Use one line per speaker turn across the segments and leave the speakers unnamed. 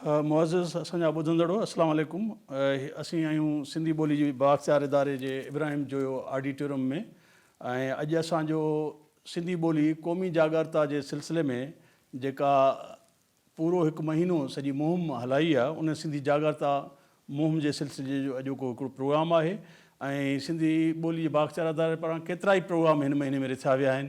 معزز اسان جا ٻڌندڙو السلام عليڪم اسين آهيون سنڌي ٻولي جي بااختيار اداري جي ابراهيم جويو آڊيٽوريم ۾ ۽ اڄ اسان جو سنڌي ٻولي قومي جاڳارتا جي سلسلي ۾ جيڪا پورو هڪ مهينو سڄي مهم هلائي آ ان سنڌي جاڳرتا مهم جي سلسلي جو اڄوڪو هڪڙو پروگرام آهي ۽ سنڌي ٻولي جي بااختيار اداري پاران ڪيترائي پروگرام هن مهيني ۾ رٿيا ويا آهن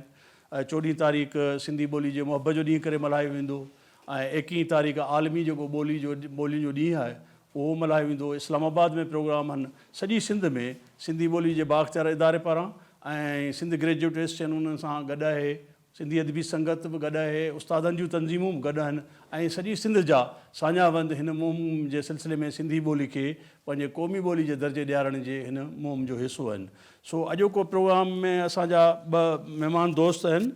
چوڏهين تاريخ سنڌي ٻولي جي محب جو ڏينهن ڪري ملهايو ويندو ۽ ايڪيهين تاريخ عالمي جيڪو ٻولي جو ٻولين جو ڏينهن آهي اهو ملهايو ويندو اسلام آباد ۾ پروگرام هن سڄي سنڌ ۾ سنڌي ٻولي جي بااختيار اداري پاران ۽ سنڌ گريجوئيٽ ايسوسيئن انهن سان گڏ آهي سنڌي ادبي سنگت به گڏ اهي، استادن جون تنظيمون به گڏ اهن ۽ سڄي سنڌ جا ساڃاهه وند هن مهم جي سلسلي ۾ سنڌي ٻولي کي پنهنجي قومي ٻولي جي درجي ڏيارڻ جي هن مهم جو حصو اهن. سو اڄوڪو پروگرام ۾ اسان جا ٻه مهمان دوست اهن.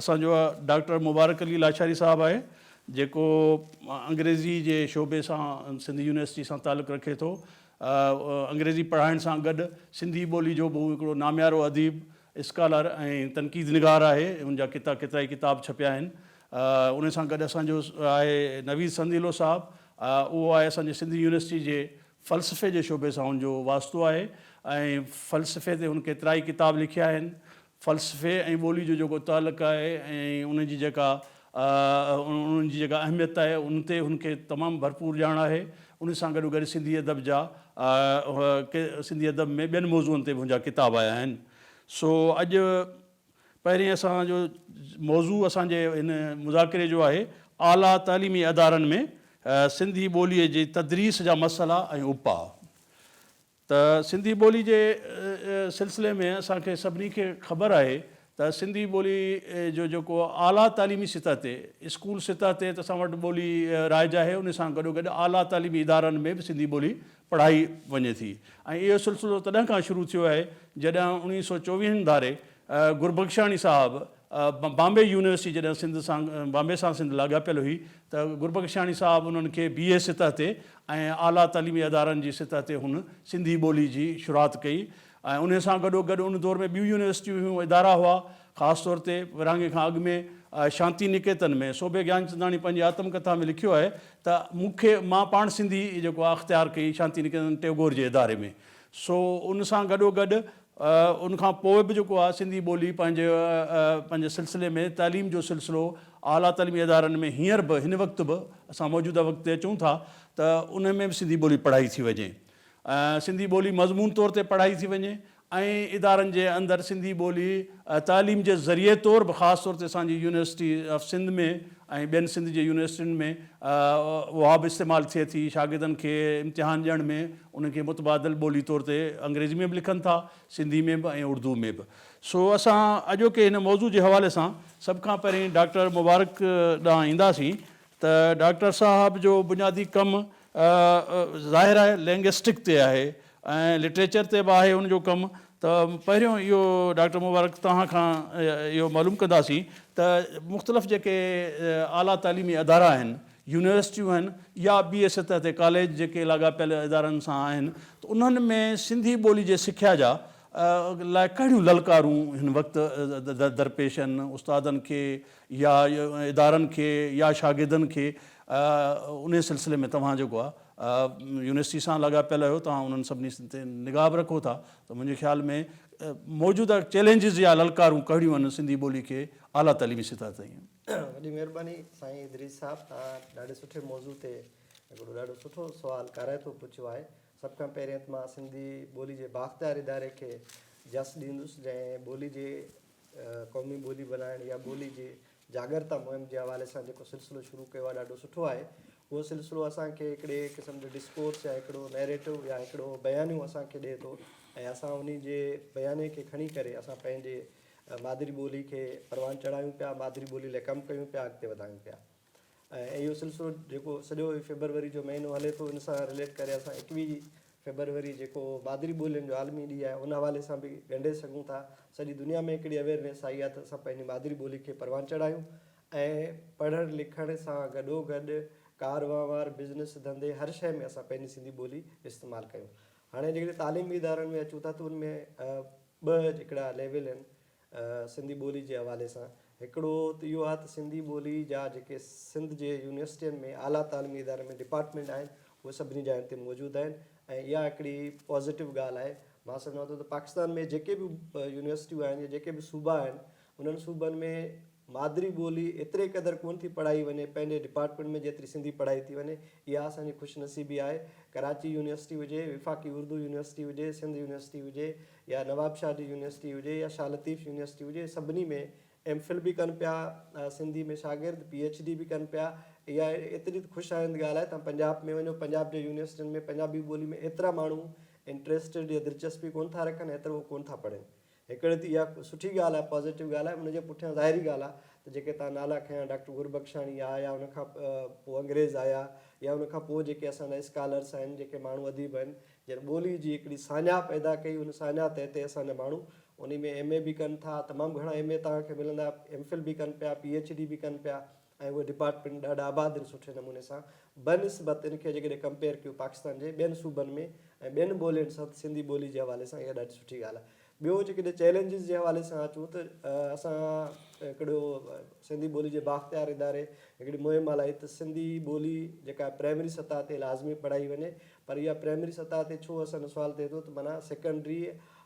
اسان جو ڊاڪٽر مبارڪ علي لاشاري صاحب آهي، جيڪو انگريزي جي شعبي سان سنڌ يونيورسٽي سان تعلق رکي ٿو. انگريزي پڙهائڻ سان گڏ سنڌي ٻولي جو به هو هڪڙو ناميارو اديب اسڪالر ۽ تنقيد نگار آهي، ان جا ڪيتا ڪيترائي ڪتاب ڇپيا آهن. ان سان گڏ اسان جو آهي نويد سنديلو صاحب، اهو آهي اسان جي سنڌ يونيورسٽي جي فلسفي جي شعبي سان هن جو واسطو آهي ۽ فلسفي تي هن ڪيترائي ڪتاب لکيا آهن. فلسفي ۽ ٻولي جو جيڪو تعلق آهي ۽ ان جي جيڪا انهن جي جيڪا اهميت آهي ان تي هن کي تمام ڀرپور ڄاڻ آهي. ان سان گڏو گڏ سنڌي ادب جا سنڌي ادب ۾ ٻين موضوعن تي به هن جا ڪتاب آيا آهن. سو اڄ پهرين اسان جو موضوع اسان جي هن مذاڪري جو آهي اعليٰ تعليمي ادارن ۾ سنڌي ٻوليء جي تدريس جا مسئلا ۽ اپاء. ته سنڌي ٻولي جي سلسلي ۾ اسان کي سڀني کي خبر آهي ته سنڌي ٻولي جو جيڪو اعليٰ تعليمي سطح تي اسڪول سطح تي ته اسان وٽ ٻولي رائج آهي ان سان گڏوگڏ اعليٰ تعليمي ادارن ۾ به سنڌي ٻولي پڙهائي وڃي ٿي ۽ اهو سلسلو تڏهن کان شروع ٿيو آهي جڏهن اوڻيهه سؤ چوويهن ڌاري گربخشاڻي صاحب بامبي يونيورسٽي جڏهن سنڌ سان بامبي سان سنڌ لاڳاپيل هئي ته گربخشاڻي صاحب انهن کي بي اي سطح تي ۽ اعليٰ تعليمي ادارن جي سطح تي هن سنڌي ٻولي جي شروعات ڪئي ۽ انهي سان گڏو گڏ ان دور ۾ ٻيون يونيورسٽيون هيون ادارا هئا خاص طور تي ورهاڱي کان اڳ ۾ شانتي نڪيتن ۾ صوڀي گيانچنداڻي پنهنجي آتم ڪٿا ۾ لکيو آهي ته مون کي مان پاڻ سنڌي جيڪو آهي اختيار ڪئي شانتي نڪيتن ٽيگور جي اداري ۾ سو ان سان گڏو گڏ ان کان پوء به جيڪو آهي سنڌي ٻولي پنهنجي پنهنجي سلسلي ۾ تعليم جو سلسلو اعليٰ تعليمي ادارن ۾ هينئر به هن وقت به اسان موجوده وقت تي اچون ٿا ته ان ۾ به سنڌي ٻولي پڙهائي ٿي وڃي سنڌي ٻولي مضمون طور تي پڙهائي ٿي وڃي ۽ ادارن جي اندر سنڌي ٻولي تعليم جي ذريعي طور به خاص طور تي اسان جي يونيورسٽي آف سنڌ ۾ ۽ ٻين سنڌ جي يونيورسٽين ۾ اها به استعمال ٿئي ٿي شاگردن کي امتحان ڏيڻ ۾ ان کي متبادل ٻولي طور تي انگريزي ۾ به لکن ٿا، سنڌي ۾ به ۽ اڙدوء ۾ به. سو اسان اڄوڪي هن موضوع جي حوالي سان سڀ کان پهرين ڊاڪٽر مبارڪ ڏانهن اينداسين ته ڊاڪٽر صاحب جو بنيادي ڪم ظاهر آهي لينگئسٽڪ تي آهي ۽ لٽريچر تي به آهي ان جو ڪم ته پهريون اهو ڊاڪٽر مبارڪ توهان کان اهو معلوم ڪنداسين ته مختلف جيڪي اعليٰ تعليمي ادارا آهن يونيورسٽيون آهن يا ٻي سطح تي ڪاليج جيڪي لاڳاپيل ادارن سان آهن ته انهن ۾ سنڌي ٻولي جي سکيا جا لاء ڪهڙيون للڪارون هن وقت درپيش آهن استادن کي يا ادارن کي يا شاگردن کي انهي سلسلي ۾ توهان جيڪو آهي يونيورسٽي سان لاڳاپيل آهيو توهان انهن سڀني تي نگاهه به رکو ٿا ته منهنجي خيال ۾ موجوده چئلينجز يا للڪارون ڪهڙيون آهن سنڌي ٻولي کي اعليٰ تعليمي سطح تائين وڏي مھرباني
سائين ادريس صاحب توھان ڏاڍي سٺي موضوع تي ھڪڙو ڏاڍو سٺو سوال ڪارائتو پڇيو آھي سڀ کان پھرين ته مان سنڌي ٻولي جي بااختيار اداري کي جس ڏيندس جنھن ٻولي جي قومي ٻولي بنائڻ يا ٻولي جي جاڳرتا مھم جي حوالي سان جيڪو سلسلو شروع ڪيو آھي ڏاڍو سٺو آھي اھو سلسلو اسان کي ھڪڙي قسم جو ڊسڪورس يا ھڪڙو نيريٽو يا ھڪڙو بيانيو اسان کي ڏي ٿو ۽ اسان انھي جي بياني کي کڻي ڪري اسان پنھنجي مادري ٻولي کي پروان چڙهايون پيا، مادري ٻولي لاء ڪم ڪيون پيا، اڳتي وڌايون پيا ۽ اهو سلسلو جيڪو سڄو هي فيبروري جو مهينو هلي ٿو ان سان رليٽ ڪري اسان ايڪويهه فيبروري جيڪو مادري ٻولين جو عالمي ڏينهن آهي ان حوالي سان به ڳنڍي سگهون ٿا. سڄي دنيا ۾ هڪڙي اويئرنيس آئي آهي ته اسان پنهنجي مادري ٻولي کي پروان چڙهايون ۽ پڙهڻ لکڻ سان گڏوگڏ ڪار وهنوار، بزنس، ڌنڌي هر شيء ۾ اسان پنهنجي سنڌي ٻولي استعمال ڪيون. هاڻي جيڪڏهن تعليمي ادارن ۾ اچون ٿا ته ان ۾ ٻه هڪڙا ليول آهن سنڌي ٻولي جي حوالي سان. هڪڙو ته اهو آهي ته سنڌي ٻولي جا جيڪي سنڌ جي يونيورسٽين ۾ اعليٰ تعليمي ادارن ۾ ڊپارٽمينٽ آهن اهي سڀني جاين تي موجود آهن ۽ اها هڪڙي پازيٽو ڳالهه آهي. مان سمجهان ٿو ته پاڪستان ۾ جيڪي به يونيورسٽيون آهن يا جيڪي به صوبا آهن انهن صوبن ۾ مادري ٻولي ايتري قدر ڪونه ٿي پڙهائي وڃي، پنهنجي ڊپارٽمينٽ ۾ جيتري سنڌي پڙهائي ٿي وڃي، اها اسان جي خوش نصيبي آهي. ڪراچي يونيورسٽي هجي، وفاقي اردو يونيورسٽي هجي، سنڌ يونيورسٽي هجي يا نوابشاهه جي يونيورسٽي هجي يا شاهه لطيف يونيورسٽي هجي، سڀني ۾ ايم فل به ڪن پيا سنڌي ۾ شاگرد، پي ايڇ ڊي به ڪن پيا. اها ايتري ته خوش آئند ڳالهه آهي. توهان پنجاب ۾ وڃو، پنجاب جي يونيورسٽين ۾ پنجابي ٻولي ۾ ايترا ماڻهو انٽريسٽيڊ يا دلچسپي ڪونه ٿا رکن، ايترو ڪونه ٿا پڙهن. هڪڙي ته اها سٺي ڳالهه آهي، پازيٽو ڳالهه آهي، ان جي پٺيان ظاهري ڳالهه آهي ته جيڪي تان نالا کنيا ڊاڪٽر گربخشاڻي آ يا ان کان پوء انگريز آيا يا ان کان پوء جيڪي اسان جا اسڪالرس آهن، جيڪي ماڻهو اديب آهن، جن ٻولي جي هڪڙي ساڃاهه پيدا ڪئي، ان ساڃاهه تحت اسان جا ماڻهو انهي ۾ ايم اي به ڪن ٿا، تمام گهڻا ايم اي توهان کي ملندا، ايم فل به ڪن پيا، پي ايڇ ڊي به ڪن پيا، ۽ اهي ڊپارٽمينٽ ڏاڍا آباد آهن سٺي نموني سان بنسبت ان کي جيڪڏهن ڪمپيئر ڪيو پاڪستان جي ٻين صوبن ۾ ۽ ٻين ٻولين سان ته سنڌي ٻولي جي حوالي سان اها ڏاڍي سٺي ڳالهه آهي ٻيو جيڪڏهن چئلينجز جي حوالي سان اچون ته اسان هڪڙو سنڌي ٻولي جي بااختيار اداري هڪڙي مهم هلائي ته سنڌي ٻولي جيڪا پرائمري سطح تي لازمي پڙهائي وڃي پر اها پرائمري سطح تي ڇو اسان جو سوال ٿئي ٿو ته معنيٰ secondary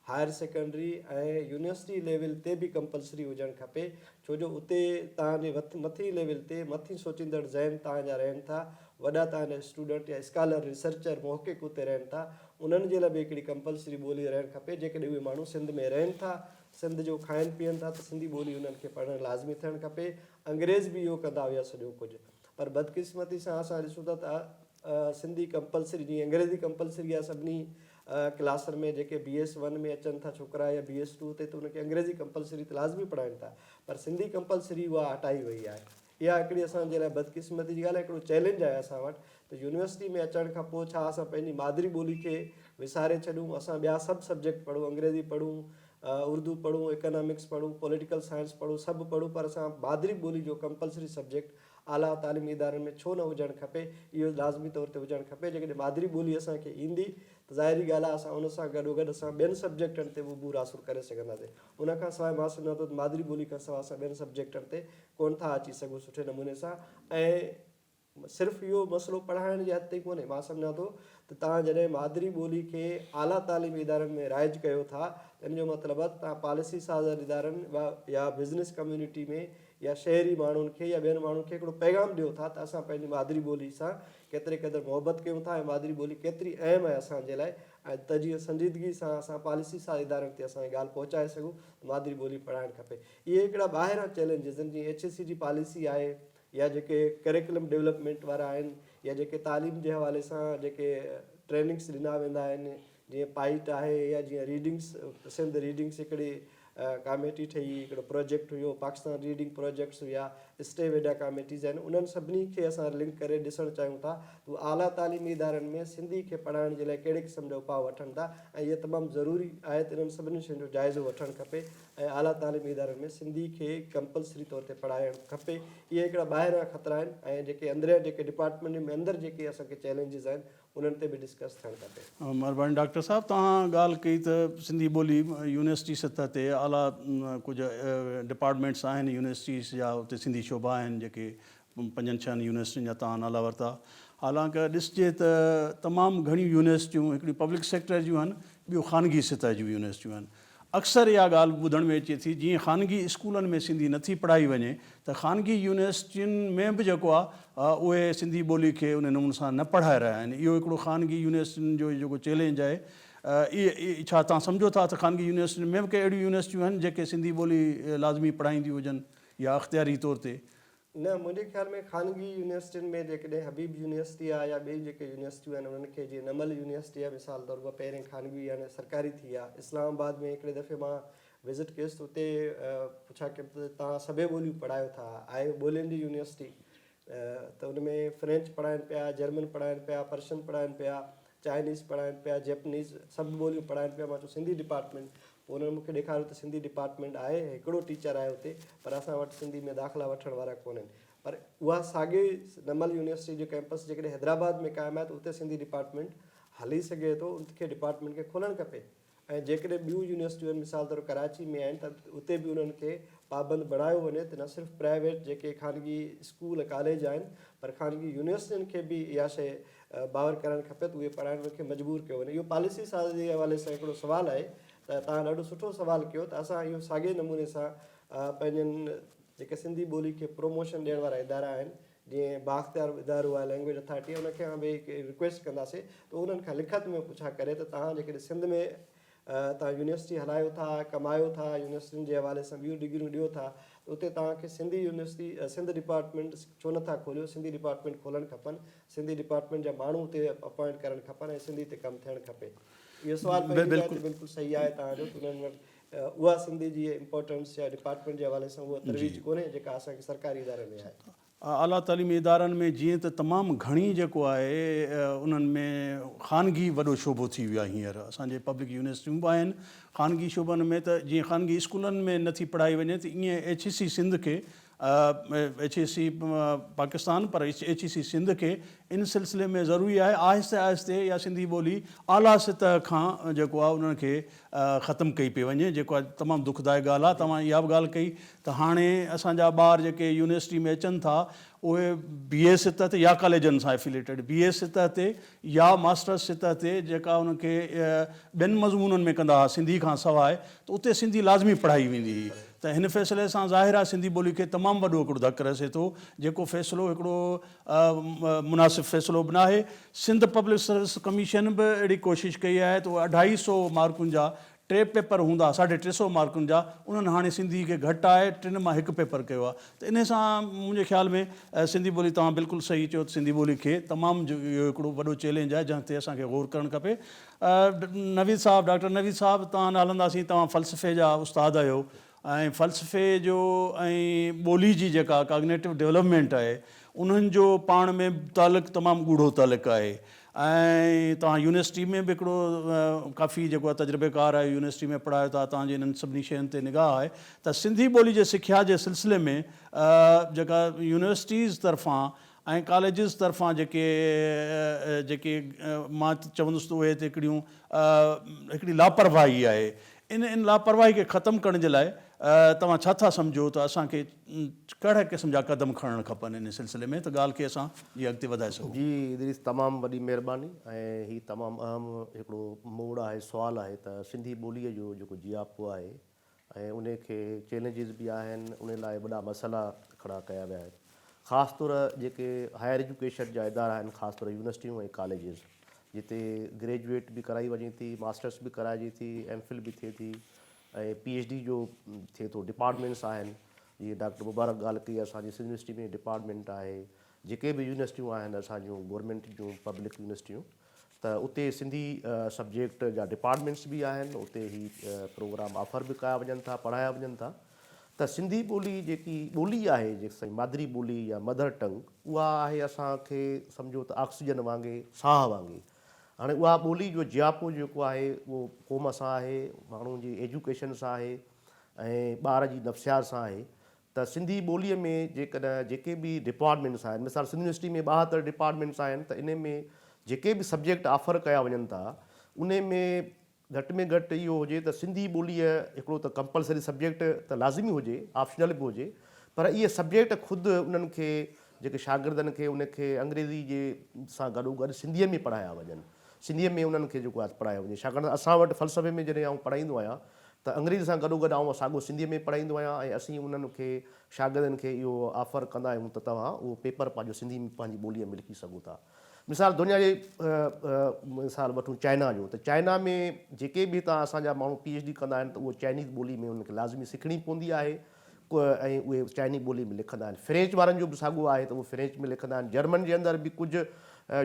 higher secondary ۽ university level تي به ڪمپلسري هجڻ کپي ڇو جو اتي توهان جي مٿين ليول تي مٿين سوچيندڙ ذهن توهان جا رهن ٿا وڏا توهان جا اسٽوڊنٽ يا اسڪالر ريسرچر محقق اتي رهن ٿا انهن جي لاء به هڪڙي ڪمپلسري ٻولي رهڻ کپي جيڪڏهن اهي ماڻهو سنڌ ۾ رهن ٿا سنڌ جو کائن پيئن ٿا ته سنڌي ٻولي انهن کي پڙهڻ لازمي ٿيڻ کپي انگريز به اهو ڪندا هيا سڄو ڪجهه پر بدقسمتي سان اسان ڏسون ٿا ته سنڌي ڪمپلسري جيئن انگريزي ڪمپلسري آهي سڀني ڪلاسن ۾ جيڪي بي ايس ون ۾ اچن ٿا ڇوڪرا يا بي ايس ٽو تي ته ان کي انگريزي ڪمپلسري ته لازمي پڙهائين ٿا پر سنڌي ڪمپلسري اها هٽائي وئي آهي اها هڪڙي اسان جي لاء بدقسمتي جي ڳالهه آهي هڪڙو چئلينج آهي اسان وٽ ته يونيورسٽي ۾ اچڻ کان پوء ڇا اسان پنهنجي مادري ٻولي کي وساري ڇڏيون اسان ٻيا سڀ سبجيڪٽ پڙهون انگريزي پڙهون اردو پڙهون اڪانامڪس پڙهون پوليٽيڪل سائنس پڙهون سڀ پڙهون پر اسان مادري ٻولي جو ڪمپلسري سبجيڪٽ اعليٰ تعليمي ادارن ۾ ڇو نه هجڻ کپي، اهو لازمي طور تي هجڻ کپي، جيڪڏهن مادري ٻولي اسان کي ايندي ته ظاهري ڳالهه آهي اسان ان سان گڏوگڏ اسان ٻين سبجيڪٽن تي به عبور حاصل ڪري سگهنداسين، ان کان سواء مان سمجهان ٿو ته مادري ٻولي کان سواء اسان ٻين سبجيڪٽن تي ڪونه ٿا اچي سگهون سٺي نموني سان ۽ صرف اهو مسئلو پڙهائڻ جي حد تائين ڪونهي، مان سمجهان ٿو ته توهان جڏهن مادري ٻولي کي اعليٰ تعليمي ادارن ۾ رائج ڪيو ٿا ته ان جو مطلب آهي ته توهان پاليسي سازن ادارن يا بزنس ڪميونٽي ۾ يا شهري ماڻهن کي يا ٻين ماڻهن کي هڪڙو پيغام ڏيو ٿا ته اسان پنهنجي مادري ٻولي سان ڪيتري قدر محبت ڪيون ٿا ۽ مادري ٻولي ڪيتري اهم آهي اسان جي لاء ۽ ته جيئن سنجيدگي سان اسان پاليسي ساز ادارن تي اسان هي ڳالهه پهچائي سگهون ته مادري ٻولي پڙهائڻ کپي. اهي هڪڙا ٻاهران چئلينجز آهن جيئن ايڇ اي سي جي پاليسي آهي يا جيڪي ڪريڪلم ڊولپمينٽ وارا آهن يا جيڪي تعليم جي حوالي سان جيڪي ٽريننگس ڏنا ويندا آهن جيئن پائيٽ آهي يا جيئن ريڊنگس سنڌ ريڊنگس هڪڙي ڪاميٽي ٺهي هڪڙو پروجيڪٽ هيو پاڪستان ريڊنگ پروجيڪٽس هيا اسٽي ويڊا ڪاميٽيز آهن انهن سڀني کي اسان لنڪ ڪري ڏسڻ چاهيون ٿا ته هو اعليٰ تعليمي ادارن ۾ سنڌي کي پڙهائڻ جي لاء ڪهڙي قسم جا اپاء وٺن ٿا ۽ هيء تمام ضروري آهي ته انهن سڀني شين جو جائزو وٺڻ کپي ۽ اعليٰ تعليمي ادارن ۾ سنڌي کي ڪمپلسري طور تي پڙهائڻ کپي اهي هڪڙا ٻاهريان خطرا آهن ۽ جيڪي اندريان جيڪي ڊپارٽمينٽ ۾ اندر جيڪي اسان کي چئلينجز آهن انهن تي به ڊسڪس ٿيڻ کپي. مھرباني ڊاڪٽر صاحب
توھان ڳالھ ڪئي ته سنڌي ٻولي يونيورسٽي سطح تي اعليٰ ڪجھ ڊپارٽمينٽس آھن يونيورسٽيز جا اتي سنڌي شعبا آھن جيڪي پنجن ڇھن يونيورسٽين جا توھان نالا ورتا حالانڪ ڏسجي ته تمام گھڻيون يونيورسٽيون ھڪڙيون پبلڪ سيڪٽر جون آھن ٻيون خانگي سطح جون يونيورسٽيون آھن اڪثر اها ڳالهه به ٻڌڻ ۾ اچي ٿي جيئن خانگي اسڪولن ۾ سنڌي نه ٿي پڙهائي وڃي ته خانگي يونيورسٽين ۾ به جيڪو آهي اهي سنڌي ٻولي کي انهي نموني سان نه پڙهائي رهيا آهن اهو هڪڙو خانگي يونيورسٽين جو جيڪو چئلينج آهي اهي ڇا توهان سمجهو ٿا ته خانگي يونيورسٽين ۾ به ڪي اهڙيون يونيورسٽيون آهن جيڪي سنڌي ٻولي لازمي پڙهائينديون هجن يا اختياري طور تي نه منهنجي
خيال ۾ خانگي يونيورسٽين ۾ جيڪڏهن حبيب يونيورسٽي آ يا ٻيون جيڪي يونيورسٽيون آهن انهن کي جيئن نمل يونيورسٽي آ مثال طور اها پهرين خانگي يا نه سرڪاري ٿي آ اسلام آباد ۾ هڪڙي دفعي مان وزٽ ڪيس ته اتي پڇا ڪيم ته توهان سڀيئي ٻوليون پڙهايو ٿا آهي ٻولين جي يونيورسٽي ته ان ۾ فرينچ پڙهائين پيا جرمن پڙهائين پيا پرشن پڙهائين پيا چائنيز پڙهائين پيا جيپنيز سڀ ٻوليون پڙهائين پيا مان چيو سنڌي ڊپارٽمينٽ پوء انهن مون کي ڏيکاريو ته سنڌي ڊپارٽمينٽ آهي ۽ هڪڙو ٽيچر آهي اتي پر اسان وٽ سنڌي ۾ داخلا وٺڻ وارا ڪونهن پر اها ساڳي نمل يونيورسٽي جو ڪيمپس جيڪڏهن حيدرآباد ۾ قائم آهي ته اتي سنڌي ڊپارٽمينٽ هلي سگهي ٿو ان کي ڊپارٽمينٽ کي کولڻ کپي ۽ جيڪڏهن ٻيون يونيورسٽيون مثال طور ڪراچي ۾ آهن ته اتي به انهن کي پابند بڻايو وڃي ته نه صرف پرائيويٽ جيڪي خانگي اسڪول ڪاليج آهن پر خانگي يونيورسٽين کي به اها شيء باور ڪرائڻ کپي ته اهي پڙهائڻ کي مجبور ڪيو وڃي اهو پاليسي ساز جي حوالي سان هڪڙو سوال آهي ته توهان ڏاڍو سٺو سوال ڪيو ته اسان اهو ساڳئي نموني سان پنهنجن جيڪي سنڌي ٻولي کي پروموشن ڏيڻ وارا ادارا آهن جيئن بااختيار ادارو آهي لينگويج اٿارٽي ان کان به هڪ رڪويسٽ ڪنداسي ته انهن کان لکت ۾ پڇا ڪري ته تهان جيڪڏهن سنڌ ۾ تهان يونيورسٽي هلايو ٿا ڪمايو ٿا يونيورسٽين جي حوالي سان ٻيون ڊگريون ڏيو ٿا ته اتي تهان کي سنڌي يونيورسٽي سنڌ ڊپارٽمينٽ ڇو نه ٿا کوليو سنڌي ڊپارٽمينٽ کولڻ کپن سنڌي ڊپارٽمينٽ جا ماڻهو اتي اپوائنٽ ڪرڻ کپن ۽ سنڌي تي ڪم ٿيڻ کپي اهو سوال پنهنجي جاء تي بلڪل صحيح آهي تهان جو ته انهن وٽ اها سنڌ جي امپورٽنس يا ڊپارٽمينٽ جي حوالي سان اها ترويج ڪونهي جيڪا اسان کي سرڪاري ادارن ۾ آهي. اعليٰ تعليمي
ادارن ۾ جيئن ته تمام گهڻي جيڪو آهي انهن ۾ خانگي وڏو شعبو ٿي ويو آهي هينئر اسان جي پبلڪ يونيورسٽيون به آهن خانگي شعبن ۾ ته جيئن خانگي اسڪولن ۾ نٿي پڙهائي وڃي ته ايئن ايڇ اي سي سنڌ کي ايڇ اي سي پاڪستان پر ايڇ اي سي سنڌ کي ان سلسلي ۾ ضروري آهي آهستي آهستي اها سنڌي ٻولي اعليٰ سطح کان جيڪو آهي انهن کي ختم ڪئي پئي وڃي جيڪو آهي تمام دکدائڪ ڳالهه آهي توهان اها به ڳالهه ڪئي ته هاڻي اسان جا ٻار جيڪي يونيورسٽي ۾ اچن ٿا اهي بي اي سطح تي يا ڪاليجن سان افيليٽيڊ بي اي سطح تي يا ماسٽرس سطح تي جيڪا انهن کي ٻين مضمونن ۾ ڪندا ها سنڌي کان سواء ته اتي سنڌي لازمي پڙهائي ويندي هئي ته هن فيصلي سان ظاهر آهي سنڌي ٻولي کي تمام وڏو هڪڙو ڌڪ رسي ٿو جيڪو فيصلو هڪڙو مناسب فيصلو به ناهي سنڌ پبلڪ سروس ڪميشن به اهڙي ڪوشش ڪئي آهي ته اهي اڍائي سئو مارڪن جا ٽي پيپر هوندا ساڍي ٽي سئو مارڪن جا انهن هاڻي سنڌي کي گهٽائي ٽن مان هڪ پيپر ڪيو آهي ته انهي سان منهنجي خيال ۾ سنڌي ٻولي توهان بلڪل صحيح چيو ته سنڌي ٻولي کي تمام اهو هڪڙو وڏو چئلينج آهي جنهن تي اسان کي غور ڪرڻ کپي نويد صاحب، ڊاڪٽر نويد صاحب توهان نه هلنداسين توهان فلسفي جا استاد آهيو ۽ فلسفي جو ۽ ٻولي جي جيڪا ڪاگنيٽو ڊولپمينٽ آهي انهن جو پاڻ ۾ تعلق تمام ڳوڙهو تعلق آهي ۽ توهان يونيورسٽي ۾ به هڪڙو ڪافي جيڪو آهي تجربيڪار آهيو يونيورسٽي ۾ پڙهايو ٿا توهان جي انهن سڀني شين تي نگاهه آهي ته سنڌي ٻولي جي سکيا جي سلسلي ۾ جيڪا يونيورسٽيز طرفان ۽ ڪاليجز طرفان جيڪي جيڪي مان چوندس ته اهي هتي هڪڙيون هڪڙي لاپرواهي آهي ان ان لاپرواهي کي ختم ڪرڻ جي لاء توهان ڇا ٿا سمجهو ته اسان کي ڪهڙا قسم جا قدم کڻڻ کپن ان سلسلي ۾ ته ڳالهه کي اسان جي اڳتي وڌائي سگهون. جي ادريس تمام
وڏي مهرباني ۽ هي تمام اهم هڪڙو موڙ آهي سوال آهي ته سنڌي ٻولي جو جيڪو جياپو آهي ۽ ان کي چئلينجز به آهن ان لاء وڏا مسئلا کڙا ڪيا ويا آهن خاص طور جيڪي هائر ايجوڪيشن جا ادارا آهن خاص طور يونيورسٽيون ۽ ڪاليجز جتي گريجوئيٽ به ڪرائي وڃي ٿي ماسٽرس به ڪرائجي ٿي ايم فل به ٿئي ٿي ۽ پي ايڇ ڊي جو ٿئي ٿو ڊپارٽمينٽس آهن جيئن ڊاڪٽر مبارڪ ڳالهه ڪئي اسان جي سنڌ يونيورسٽي ۾ ڊپارٽمينٽ آهي جيڪي به يونيورسٽيون آهن اسان جون گورنمينٽ جون پبلڪ يونيورسٽيون ته اتي سنڌي سبجيڪٽ جا ڊپارٽمينٽس به آهن اتي هي پروگرام آفر به ڪيا وڃن ٿا پڙهايا وڃن ٿا ته سنڌي ٻولي جيڪي ٻولي آهي جيڪي مادري ٻولي يا مدر ٽنگ اها آهي اسان کي سمجهو ته آڪسيجن وانگي ساهه وانگي هاڻي اها ٻولي جو جياپو جيڪو آهي اهو قوم سان آهي ماڻهو جي ايجوڪيشن سان آهي ۽ ٻار جي نفسيات سان آهي ته سنڌي ٻوليء ۾ جيڪڏهن جيڪي به ڊپارٽمينٽس آهن، مثال سنڌ يونيورسٽي ۾ ٻاهتر ڊپارٽمينٽس آهن ته انهي ۾ جيڪي به سبجيڪٽ آفر ڪيا وڃن ٿا، انهي ۾ گهٽ ۾ گهٽ اهو هجي ته سنڌي ٻوليء هڪڙو ته ڪمپلسري سبجيڪٽ ته لازمي هجي، آپشنل به هجي، پر اهي سبجيڪٽ خود انهن کي جيڪي شاگردن کي انهي کي انگريزي جي سان گڏو گڏ سنڌيء ۾ پڙهايا وڃن. سنڌيء ۾ انهن کي جيڪو آهي پڙهايو وڃي، ڇاڪاڻ ته اسان وٽ فلسفي ۾ جڏهن آئون پڙهائيندو آهيان ته انگريزي سان گڏوگڏ آئون ساڳو سنڌيء ۾ پڙهائيندو آهيان ۽ اسين انهن کي شاگردن کي اهو آفر ڪندا آهيون ته توهان اهو پيپر پنهنجو سنڌي ۾ پنهنجي ٻوليء ۾ لکي سگهو ٿا. مثال دنيا جي مثال وٺون چائنا جو ته چائنا ۾ جيڪي به هتان اسان جا ماڻهو پي ايڇ ڊي ڪندا آهن ته اهو چائنيز ٻولي ۾ انهن کي لازمي سکڻي پوندي آهي ۽ اهي چائني ٻولي ۾ لکندا آهن. فرينچ وارن جو به ساڳو آهي ته اهي فرينچ ۾ لکندا آهن. جرمن جي اندر به ڪجهه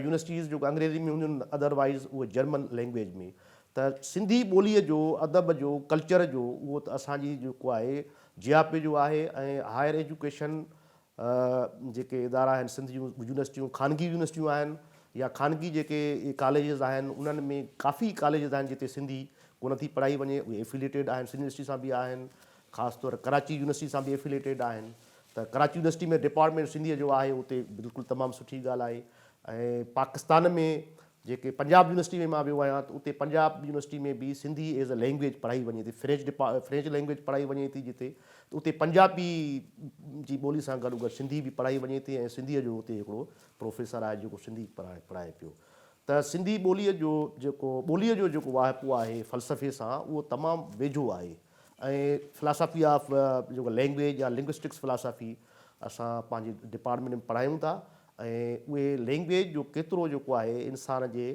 يونيورسٽيز جيڪو انگريزي ۾ هونديون آهن ادر وائيز اهي جرمن لينگويج ۾ ته سنڌي ٻوليء جو، ادب جو، ڪلچر جو اهو ته اسان جي جيڪو آهي جياپي جو آهي ۽ هائر ايجوڪيشن جيڪي ادارا آهن سنڌ جون يونيورسٽيون خانگي يونيورسٽيون آهن يا خانگي جيڪي ڪاليجز آهن انهن ۾ ڪافي ڪاليجز آهن جتي سنڌي ڪونه ٿي پڙهائي وڃي اهي افيليٽيڊ آهن سنڌ يونيورسٽي سان به آهن خاص طور ڪراچي يونيورسٽي سان به افيليٽيڊ آهن ته ڪراچي يونيورسٽي ۾ ڊپارٽمينٽ سنڌيء جو آهي اتي بلڪل تمام سٺي ڳالهه آهي ۽ پاڪستان ۾ جيڪي پنجاب يونيورسٽي ۾ مان ويو آهيان ته اتي پنجاب يونيورسٽي ۾ به سنڌي ايز اي لينگويج پڙهائي وڃي ٿي فرينچ ڊپا فرينچ لينگويج پڙهائي وڃي ٿي جتي ته اتي پنجابي جي ٻولي سان گڏو گڏ سنڌي به پڙهائي وڃي ٿي ۽ سنڌيء جو اتي هڪڙو پروفيسر آهي جيڪو سنڌي پڙهائي پڙهائي پيو ته سنڌي ٻوليء جو جيڪو ٻوليء جو جيڪو واهپو آهي فلسفي سان اهو تمام ويجهو آهي ۽ فلاسافي آف جيڪو لينگويج يا لنگوسٽڪس فلاسافي اسان پنهنجي ڊپارٽمينٽ ۾ پڙهايون ٿا ۽ اهي لينگويج جو ڪيترو جيڪو آهي انسان جي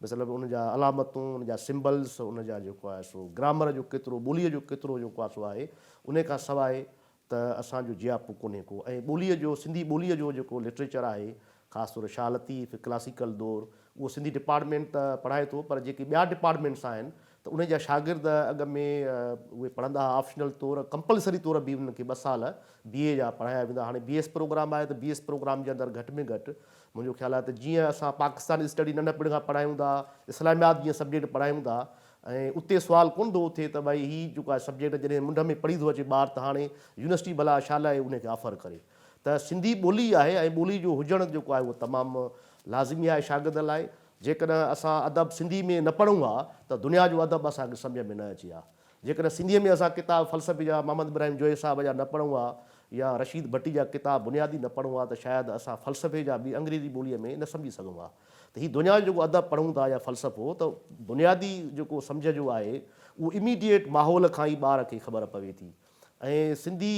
مطلب ان جا علامتون ان جا سمبلز ان جا جيڪو آهي سو گرامر جو ڪيترو ٻوليء جو ڪيترو جيڪو آهي سو آهي انهي کان سواء ته اسان جو جياپو ڪونهي ڪو ۽ ٻوليء جو سنڌي ٻوليء جو جيڪو لٽريچر آهي خاص طور شاهه لطيف ڪلاسيڪل دور اهو سنڌي ڊپارٽمينٽ ته پڙهائي ٿو پر جيڪي ٻيا ڊپارٽمينٽس آهن ته انهن جا شاگرد اڳ ۾ اهي پڙهندا ها آپشنل طور ڪمپلسري طور به انهن کي ٻه سال بي اي جا پڙهايا ويندا هاڻي بي ايس پروگرام آهي ته بي ايس پروگرام جي اندر گهٽ ۾ گهٽ منهنجو خيال آهي ته جيئن اسان پاڪستان اسٽڊي ننڍپڻ کان پڙهايون ٿا اسلاميات جيئن سبجيڪٽ پڙهايون ٿا ۽ اتي سوال ڪونه ٿو اٿي ته ڀائي هي جيڪو آهي سبجيڪٽ جڏهن منڍ ۾ پڙهي ٿو اچي ٻار ته هاڻي يونيورسٽي ڀلا ڇا لاء ان کي آفر ڪري ته سنڌي ٻولي آهي ۽ ٻولي جو هجڻ جيڪو آهي اهو تمام لازمي آهي شاگرد لاء جيڪڏهن اسان ادب سنڌي ۾ نه پڙهون ها ته دنيا جو ادب به اسان کي سمجهه ۾ نه اچي ها. جيڪڏهن سنڌي ۾ اسان ڪتاب فلسفي جا محمد ابراهيم جويي صاحب جا نه پڙهون ها يا رشيد ڀٽي جا ڪتاب بنيادي نه پڙهون ها ته شايد اسان فلسفي جا به انگريزي ٻوليء ۾ نه سمجهي سگهون ها ته هي دنيا جو جيڪو ادب پڙهون ٿا يا فلسفو ته بنيادي جيڪو سمجهه جو آهي اهو Immediate ماحول کان ئي ٻار کي خبر پوي ٿي ۽ سنڌي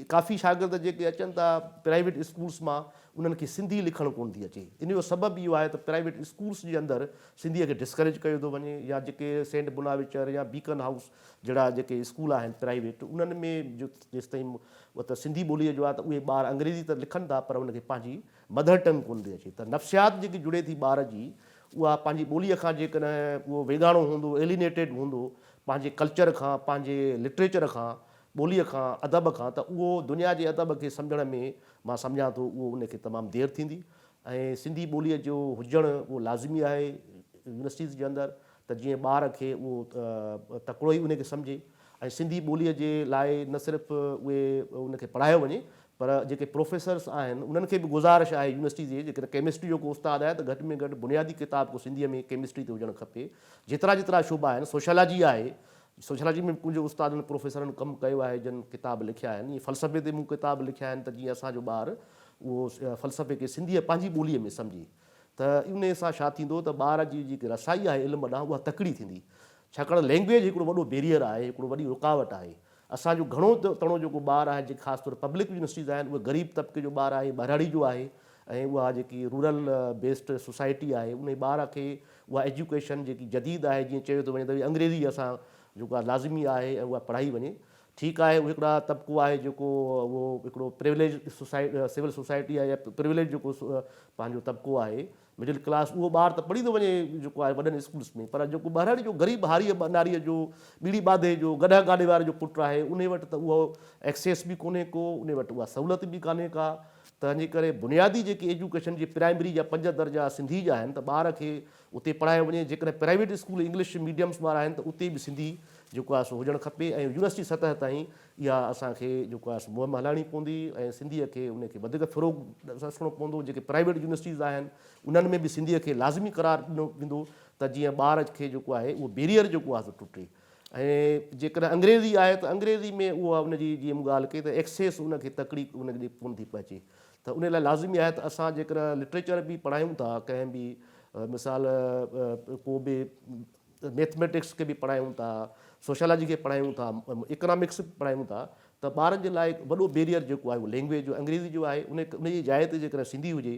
ڪافي شاگرد جيڪي اچن ٿا پرائيويٽ اسڪولس مان انهن کي سنڌي لکڻ ڪونه ٿي اچي ان جو سبب اهو آهي ته پرائيويٽ اسڪولس جي اندر سنڌي کي ڊسڪريج ڪيو ٿو وڃي يا جيڪي سينٽ بناويچر يا بيڪن هائوس جهڙا جيڪي اسڪول آهن پرائيويٽ انهن ۾ جيستائين سنڌي ٻولي جو آهي ته اهي ٻار انگريزي ته لکن ٿا پر ان کي پنهنجي مڌر ٽنگ ڪون ٿي اچي ته نفسيات جيڪي جڙي ٿي ٻار جي اها پنهنجي ٻوليء کان جيڪڏهن اهو ويڳاڻو هوندو Alienated هوندو پنهنجي ڪلچر کان پنهنجي لٽريچر کان ٻوليء کان ادب کان ته اهو دنيا جي ادب کي سمجهڻ ۾ مان سمجهان ٿو اهو ان کي تمام دير ٿيندي ۽ سنڌي ٻوليء جو هجڻ اهو لازمي آهي يونيورسٽيز جي اندر ته جيئن ٻار کي اهو تڪڙو ئي ان کي سمجهي ۽ سنڌي ٻوليء جي لاء نه صرف اهي ان کي پڙهايو وڃي پر جيڪي پروفيسرس آهن انهن کي به گذارش آهي يونيورسٽي جي جيڪڏهن ڪيمسٽري جو ڪو استاد آهي ته گهٽ ۾ گهٽ بنيادي ڪتاب ڪو سنڌي ۾ ڪيمسٽري تي هجڻ کپي جيترا جيترا شعبا آهن سوشيالاجي آهي سوشيالاجي ۾ به ڪجهه استادن پروفيسرن ڪم ڪيو آهي جن ڪتاب لکيا آهن ائين فلسفي تي مون ڪتاب لکيا آهن ته جيئن اسان جو ٻار اهو فلسفي کي سنڌي پنهنجي ٻولي ۾ سمجهي ته انهي سان ڇا ٿيندو ته ٻار جي جيڪي رسائي آهي علم ڏانهن اها تڪڙي ٿيندي ڇاڪاڻ لينگويج هڪڙو وڏو بيريئر آهي هڪڙو وڏي رڪاوٽ آهي اسان جو گهڻو تڻو جيڪو ٻار آهي جيڪي خاص طور پبلڪ يونيورسٽيز آهن اهي غريب طبقي جو ٻار آهي ٻهراڙي جو آهي ۽ اها جيڪي رورل بيسڊ سوسائٽي آهي انهي ٻار کي اها ايجوڪيشن جيڪي جديد آهي جيئن چيو ٿو وڃي ته انگريزي اسان جيڪو آهي لازمي آهي ۽ اها پڙهائي وڃي ٺيڪ آهي اهي هڪڙا طبقو آهي جيڪو اهو هڪڙو پريوليج سوسائٽي سول سوسائٽي آهي يا پريوليج جيڪو پنهنجو طبقو آهي مڊل ڪلاس اهو ٻار ته پڙهيندو وڃي جيڪو آهي وڏن اسڪولس ۾ پر جيڪو ٻهراڙي جو غريب هاريء ٻناريء جو ٻيڙي ٻاڌي جو گڏهه گاڏي واري جو پٽ آهي انهي وٽ ته اهو ايڪسيس به ڪونهي ڪو انهي وٽ اها سهولت به ڪانهي ڪا تنهنجي ڪري بنيادي جيڪي ايجوڪيشن جي پرائمري جا پنج درجا سنڌي جا آهن ته ٻار کي اتي پڙهايو وڃي جيڪڏهن پرائيويٽ اسڪول انگلش ميڊيمس وارا آهن ته اتي به سنڌي جيڪو آهي سو هجڻ کپي ۽ يونيورسٽي سطح تائين اها اسان کي جيڪو آهي سو مهم هلائڻي پوندي ۽ سنڌيء کي ان کي وڌيڪ فروغ ڏسڻو پوندو، جيڪي پرائيويٽ يونيورسٽيز آهن انهن ۾ به سنڌيء کي لازمي قرار ڏنو ويندو ته جيئن ٻار کي جيڪو آهي اهو بيريئر جيڪو آهي سو ٽٽي ۽ جيڪڏهن انگريزي آهي ته انگريزي ۾ اها ان جي جيئن مون ڳالهه ڪئي ته ايڪسيس ان کي تڪڙي ان ڏي ڪونه ٿي پهچي ته ان لاء لازمي آهي ته اسان جيڪڏهن لٽريچر به پڙهايون ٿا ڪنهن به مثال ڪو به ميٿميٽڪس کي به پڙهايون ٿا، سوشيالاجي کي پڙهايون ٿا، اڪنامڪس به پڙهايون ٿا ته ٻارن جي لاء وڏو بيريئر جيڪو آهي اهو لينگويج جو انگريزي جو آهي ان ان جي جاء تي جيڪڏهن سنڌي هجي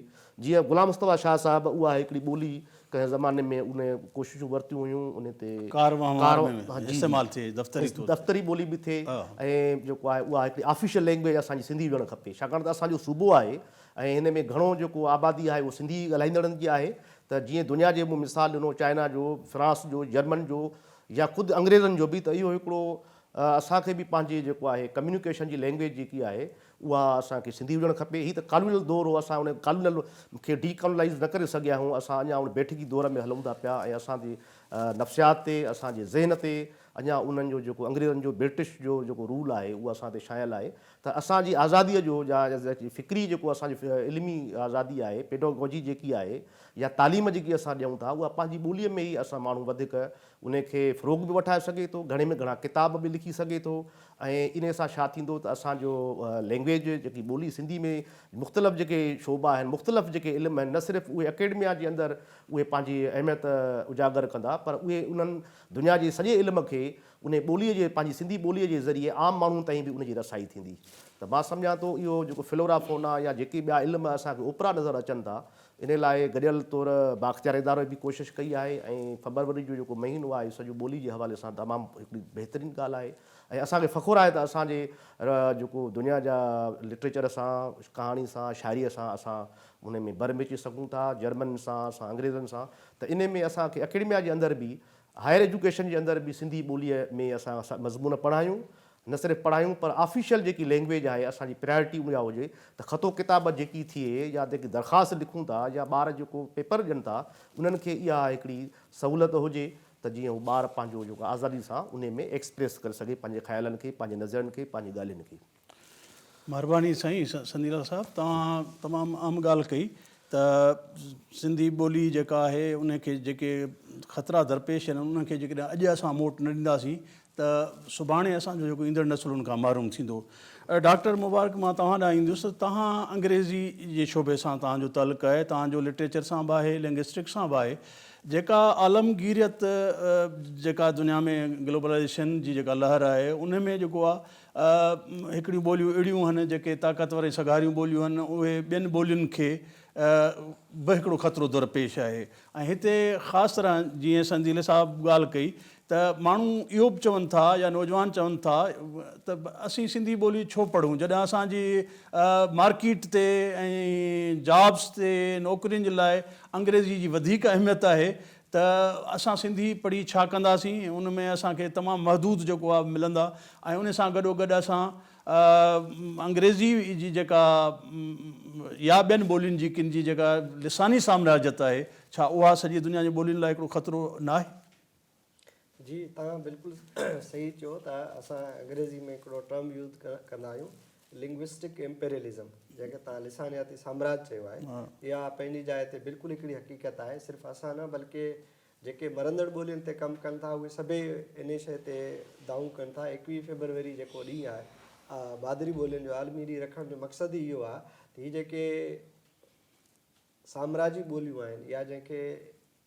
جيئن غلام مصطفيٰ شاهه صاحب اها هڪڙي ٻولي ڪنهن زماني ۾ ان ڪوششون ورتيون هيون ان تي ڪار وهنوار ۾ استعمال ٿئي دفتري طور دفتري ٻولي به ٿئي ۽ جيڪو آهي اها هڪڙي آفيشل لينگويج اسان جي سنڌي هجڻ کپي ڇاڪاڻ ته اسان جو صوبو آهي ۽ ان ۾ گهڻو جيڪو آبادي آهي اهو سنڌي ڳالهائيندڙن جي آهي ته جيئن دنيا جي مون مثال ڏنو چائنا جو، فرانس جو، جرمن جو يا خود انگريزن جو به ته اهو هڪڙو اسان کي به پنهنجي جيڪو آهي ڪميونيڪيشن جي لينگويج جيڪي آهي اها اسان کي سنڌي هجڻ کپي. هي ته ڪالونيل دور هو اسان ان ڪالونيل کي ڊي ڪالونائيز نه ڪري سگهيا آهيون اسان اڃا ان بيٺڪي دور ۾ هلون ٿا پيا ۽ اسان جي نفسيات تي اسان جي ذهن تي اڃا انهن جو جيڪو انگريزن جو برٽش جو جيڪو رول آهي اهو اسان تي ڇانيل آهي ته اسان جي آزاديء جو جا فڪري جيڪو اسان جو علمي آزادي آهي، پيڊاگوجي جيڪي آهي يا تعليم جيڪي اسان ڏيون ٿا اها پنهنجي ٻوليء ۾ ئي اسان ماڻهو وڌيڪ انهي کي فروغ به وٺائي سگهي ٿو، گهڻي ۾ گهڻا ڪتاب به لکي سگهي ٿو ۽ انهي سان ڇا ٿيندو ته اسان جو لينگويج جيڪي ٻولي سنڌي ۾ مختلف جيڪي شعبا آهن، مختلف جيڪي علم آهن نه صرف اهي اڪيڊميا جي اندر اهي پنهنجي اهميت اجاگر ڪندا پر اهي انهن دنيا جي سڄي علم کي انهي ٻوليء جي پنهنجي سنڌي ٻوليء جي ذريعي عام ماڻهن تائين به ان جي رسائي ٿيندي ته مان سمجهان ٿو اهو جيڪو فلورا فونا يا جيڪي ٻيا علم اسان کي اوپرا نظر اچن ٿا انهي لاء گڏيل طور بااختيار ادارو به ڪوشش ڪئي آهي ۽ فبروري جو جيڪو مهينو آهي سڄو ٻولي جي حوالي سان تمام هڪڙي بهترين ڳالهه آهي ۽ اسان کي فخر آهي ته اسان جي جيڪو دنيا جا لٽريچر سان ڪهاڻي سان شاعري سان اسان انهي ۾ بر مچي سگهون ٿا جرمنن سان اسان انگريزن سان ته انهي ۾ اسان کي اڪيڊميا جي اندر به هائير ايجوڪيشن جي اندر به سنڌي ٻوليء ۾ اسان مضمون پڙهايون، نه صرف پڙهايون پر آفيشل جيڪي لئنگويج آهي اسان جي پريارٽي ان اها هجي ته خط و ڪتابت جيڪي ٿئي يا جيڪي درخواست لکون ٿا يا ٻار جيڪو پيپر ڏين ٿا انهن کي اها هڪڙي سهولت هجي ته جيئن هو ٻار پنهنجو جيڪو آزادي سان انهي ۾ ايڪسپريس ڪري سگهي پنهنجي خيالن کي، پنهنجي نظرين کي، پنهنجي ڳالهين کي. مھرباني
سائين سنيلال صاحب توھان تمام اھم ڳالھ ڪئي ته سنڌي ٻولي جيڪا آھي ان کي جيڪي خطرا درپيش آھن انھن کي جيڪڏھن اڄ اسان موٽ نه ڏينداسين ته سڀاڻي اسان جو جيڪو ايندڙ نسل ان کان محروم ٿيندو. ڊاڪٽر مبارڪ مان توھان ڏانھن ايندس ته توھان انگريزي جي شعبي سان توھان جو تعلق آھي توھان جو لٽريچر سان به آھي لنگسٽڪ سان به آھي جيڪا عالمگيريت جيڪا دنيا ۾ گلوبلائيزيشن جي جيڪا لھر آھي ان ۾ جيڪو آ هڪڙيون ٻوليون اهڙيون هن جيڪي طاقتور ۽ سگهاريون ٻوليون هن اهي ٻين ٻولين کي به هڪڙو خطرو درپيش آهي ۽ هتي خاص طرح جيئن سنڌيلي صاحب ڳالهه ڪئي ته ماڻهو اهو به چون ٿا يا نوجوان چون ٿا ته اسين سنڌي ٻولي ڇو پڙهون جڏهن اسان جي مارڪيٽ تي ۽ جابس تي نوڪرين جي لاء انگريزي جي وڌيڪ اهميت آهي ته اسان سنڌي پڙهي ڇا ڪنداسين، ان ۾ اسان کي تمام محدود جيڪو آ ملندا ۽ ان سان گڏو گڏ اسان انگريزي جي جيڪا يا ٻين ٻولين جي ڪن جي جيڪا لساني سامراجيت آهي ڇا اها سڄي دنيا جي ٻولين لاء هڪڙو خطرو ناهي؟
جي توهان بلڪل صحيح چيو ته اسان انگريزي ۾ هڪڙو ٽرم يوز ڪندا آهيون Linguistic Imperialism جنهن کي توهان لسانياتي سامراج چيو آهي اها پنهنجي جاء تي بلڪل هڪڙي حقيقت آهي صرف اسان نه بلڪه جيڪي مرندڙ ٻولين تي ڪم ڪن ٿا اهي سڀئي انهي شيء تي دانهون ڪن ٿا ايڪويهه فيبروري جيڪو ڏينهن آهي مادري ٻولين جو عالمي ڏينهن رکڻ جو مقصد ئي اهو آهي ته هي جيڪي سامراجي ٻوليون آهن يا جنهن کي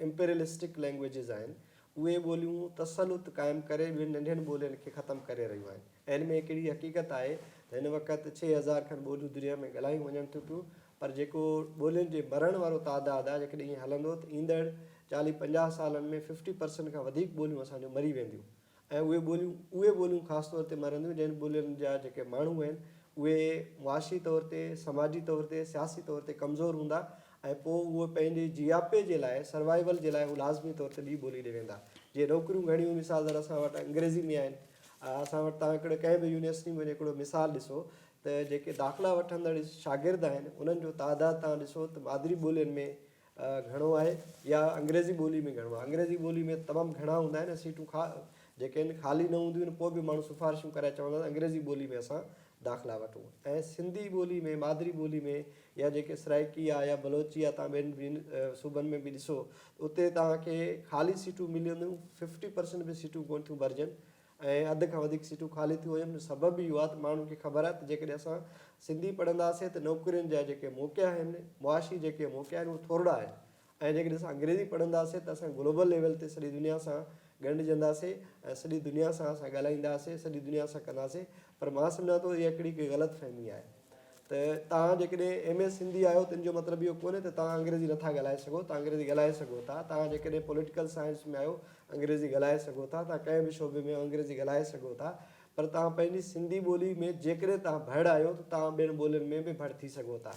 Imperialistic Languages آهن، اهي ٻوليون تسلط قائم ڪري ٻين ننڍين ٻولين کي ختم ڪري رهيون آهن ۽ هن ۾ هڪ اهڙي حقيقت آهي ته هن وقت ڇهه هزار کن ٻوليون دنيا ۾ ڳالهايون وڃن ٿيون پيون پر جيڪو ٻولين جي مرڻ وارو تعداد آهي جيڪڏهن ائين هلندو ته ايندڙ چاليهه پنجاهه سالن ۾ ففٽي پرسنٽ کان وڌيڪ ٻوليون اسان جون مري وينديون. ۽ اهي ٻوليون اهي ٻوليون خاص طور تي مرنديون جن ٻولين جا جيڪي ماڻهو آهن اهي معاشي طور تي سماجي طور تي سياسي طور تي ڪمزور هوندا ۽ پوء اهي پنهنجي جياپي جي لاء سروائيول جي لاء اهي لازمي طور تي ٻي ٻولي ڏي ويندا جيئن نوڪريون گهڻيون مثال طور اسان وٽ انگريزي ۾ آهن اسان وٽ تان هڪڙي ڪنهن به يونيورسٽي ۾ وڃي هڪڙو مثال ڏسو ته جيڪي داخلا وٺندڙ شاگرد آهن انهن جو تعداد تان ڏسو ته مادري ٻولين ۾ گهڻو آهي يا انگريزي ٻولي ۾ گهڻو آهي انگريزي ٻولي ۾ تمام گهڻا هوندا آهن ۽ سيٽون خا جيڪي آهن خالي نه هونديون آهن پوء به ماڻهو سفارشون ڪرائي چوندا آهن انگريزي ٻولي ۾ اسان داخلا وٺون ۽ سنڌي ٻولي ۾ مادري ٻولي ۾ يا جيڪي سرائيڪي آهي يا بلوچي آهي تان ٻين ٻين صوبن ۾ به ڏسو اتي توهان کي خالي سيٽون ملنديون ففٽي پرسنٽ به سيٽون ڪونه ٿيون ڀرجن ۽ اڌ کان وڌيڪ سيٽون خالي ٿيون ويون جو سبب به اهو آهي ته ماڻهن کي خبر آهي ته جيڪڏهن اسان سنڌي پڙهنداسين ته نوڪرين جا جيڪي موقعا آهن معاشي جيڪي موقعا آهن اهي ٿورڙا آهن ۽ جيڪڏهن اسان انگريزي پڙهنداسين ته اسان گلوبل ليول تي سڄي دنيا سان ڳنڍجنداسين ۽ سڄي دنيا سان اسان ڳالهائينداسين سڄي دنيا سان ڪنداسين پر مان سمجهان ٿو اها هڪڙي ڪي غلط فهمي آهي ته توهان جيڪڏهن ايم اي سنڌي آهيو ته ان جو مطلب اهو ڪونهي ته توهان انگريزي نٿا ڳالهائي سگهو، توهان انگريزي ڳالهائي سگهو ٿا. توهان جيڪڏهن پوليٽيڪل سائنس ۾ آهيو انگريزي ڳالهائي سگهو ٿا، توهان ڪنهن به شعبي ۾ آهيو انگريزي ڳالهائي سگهو ٿا، پر توهان پنهنجي سنڌي ٻولي ۾ جيڪڏهن توهان ڀڙ آهيو ته توهان ٻين ٻولين ۾ به ڀڙ ٿي سگهو ٿا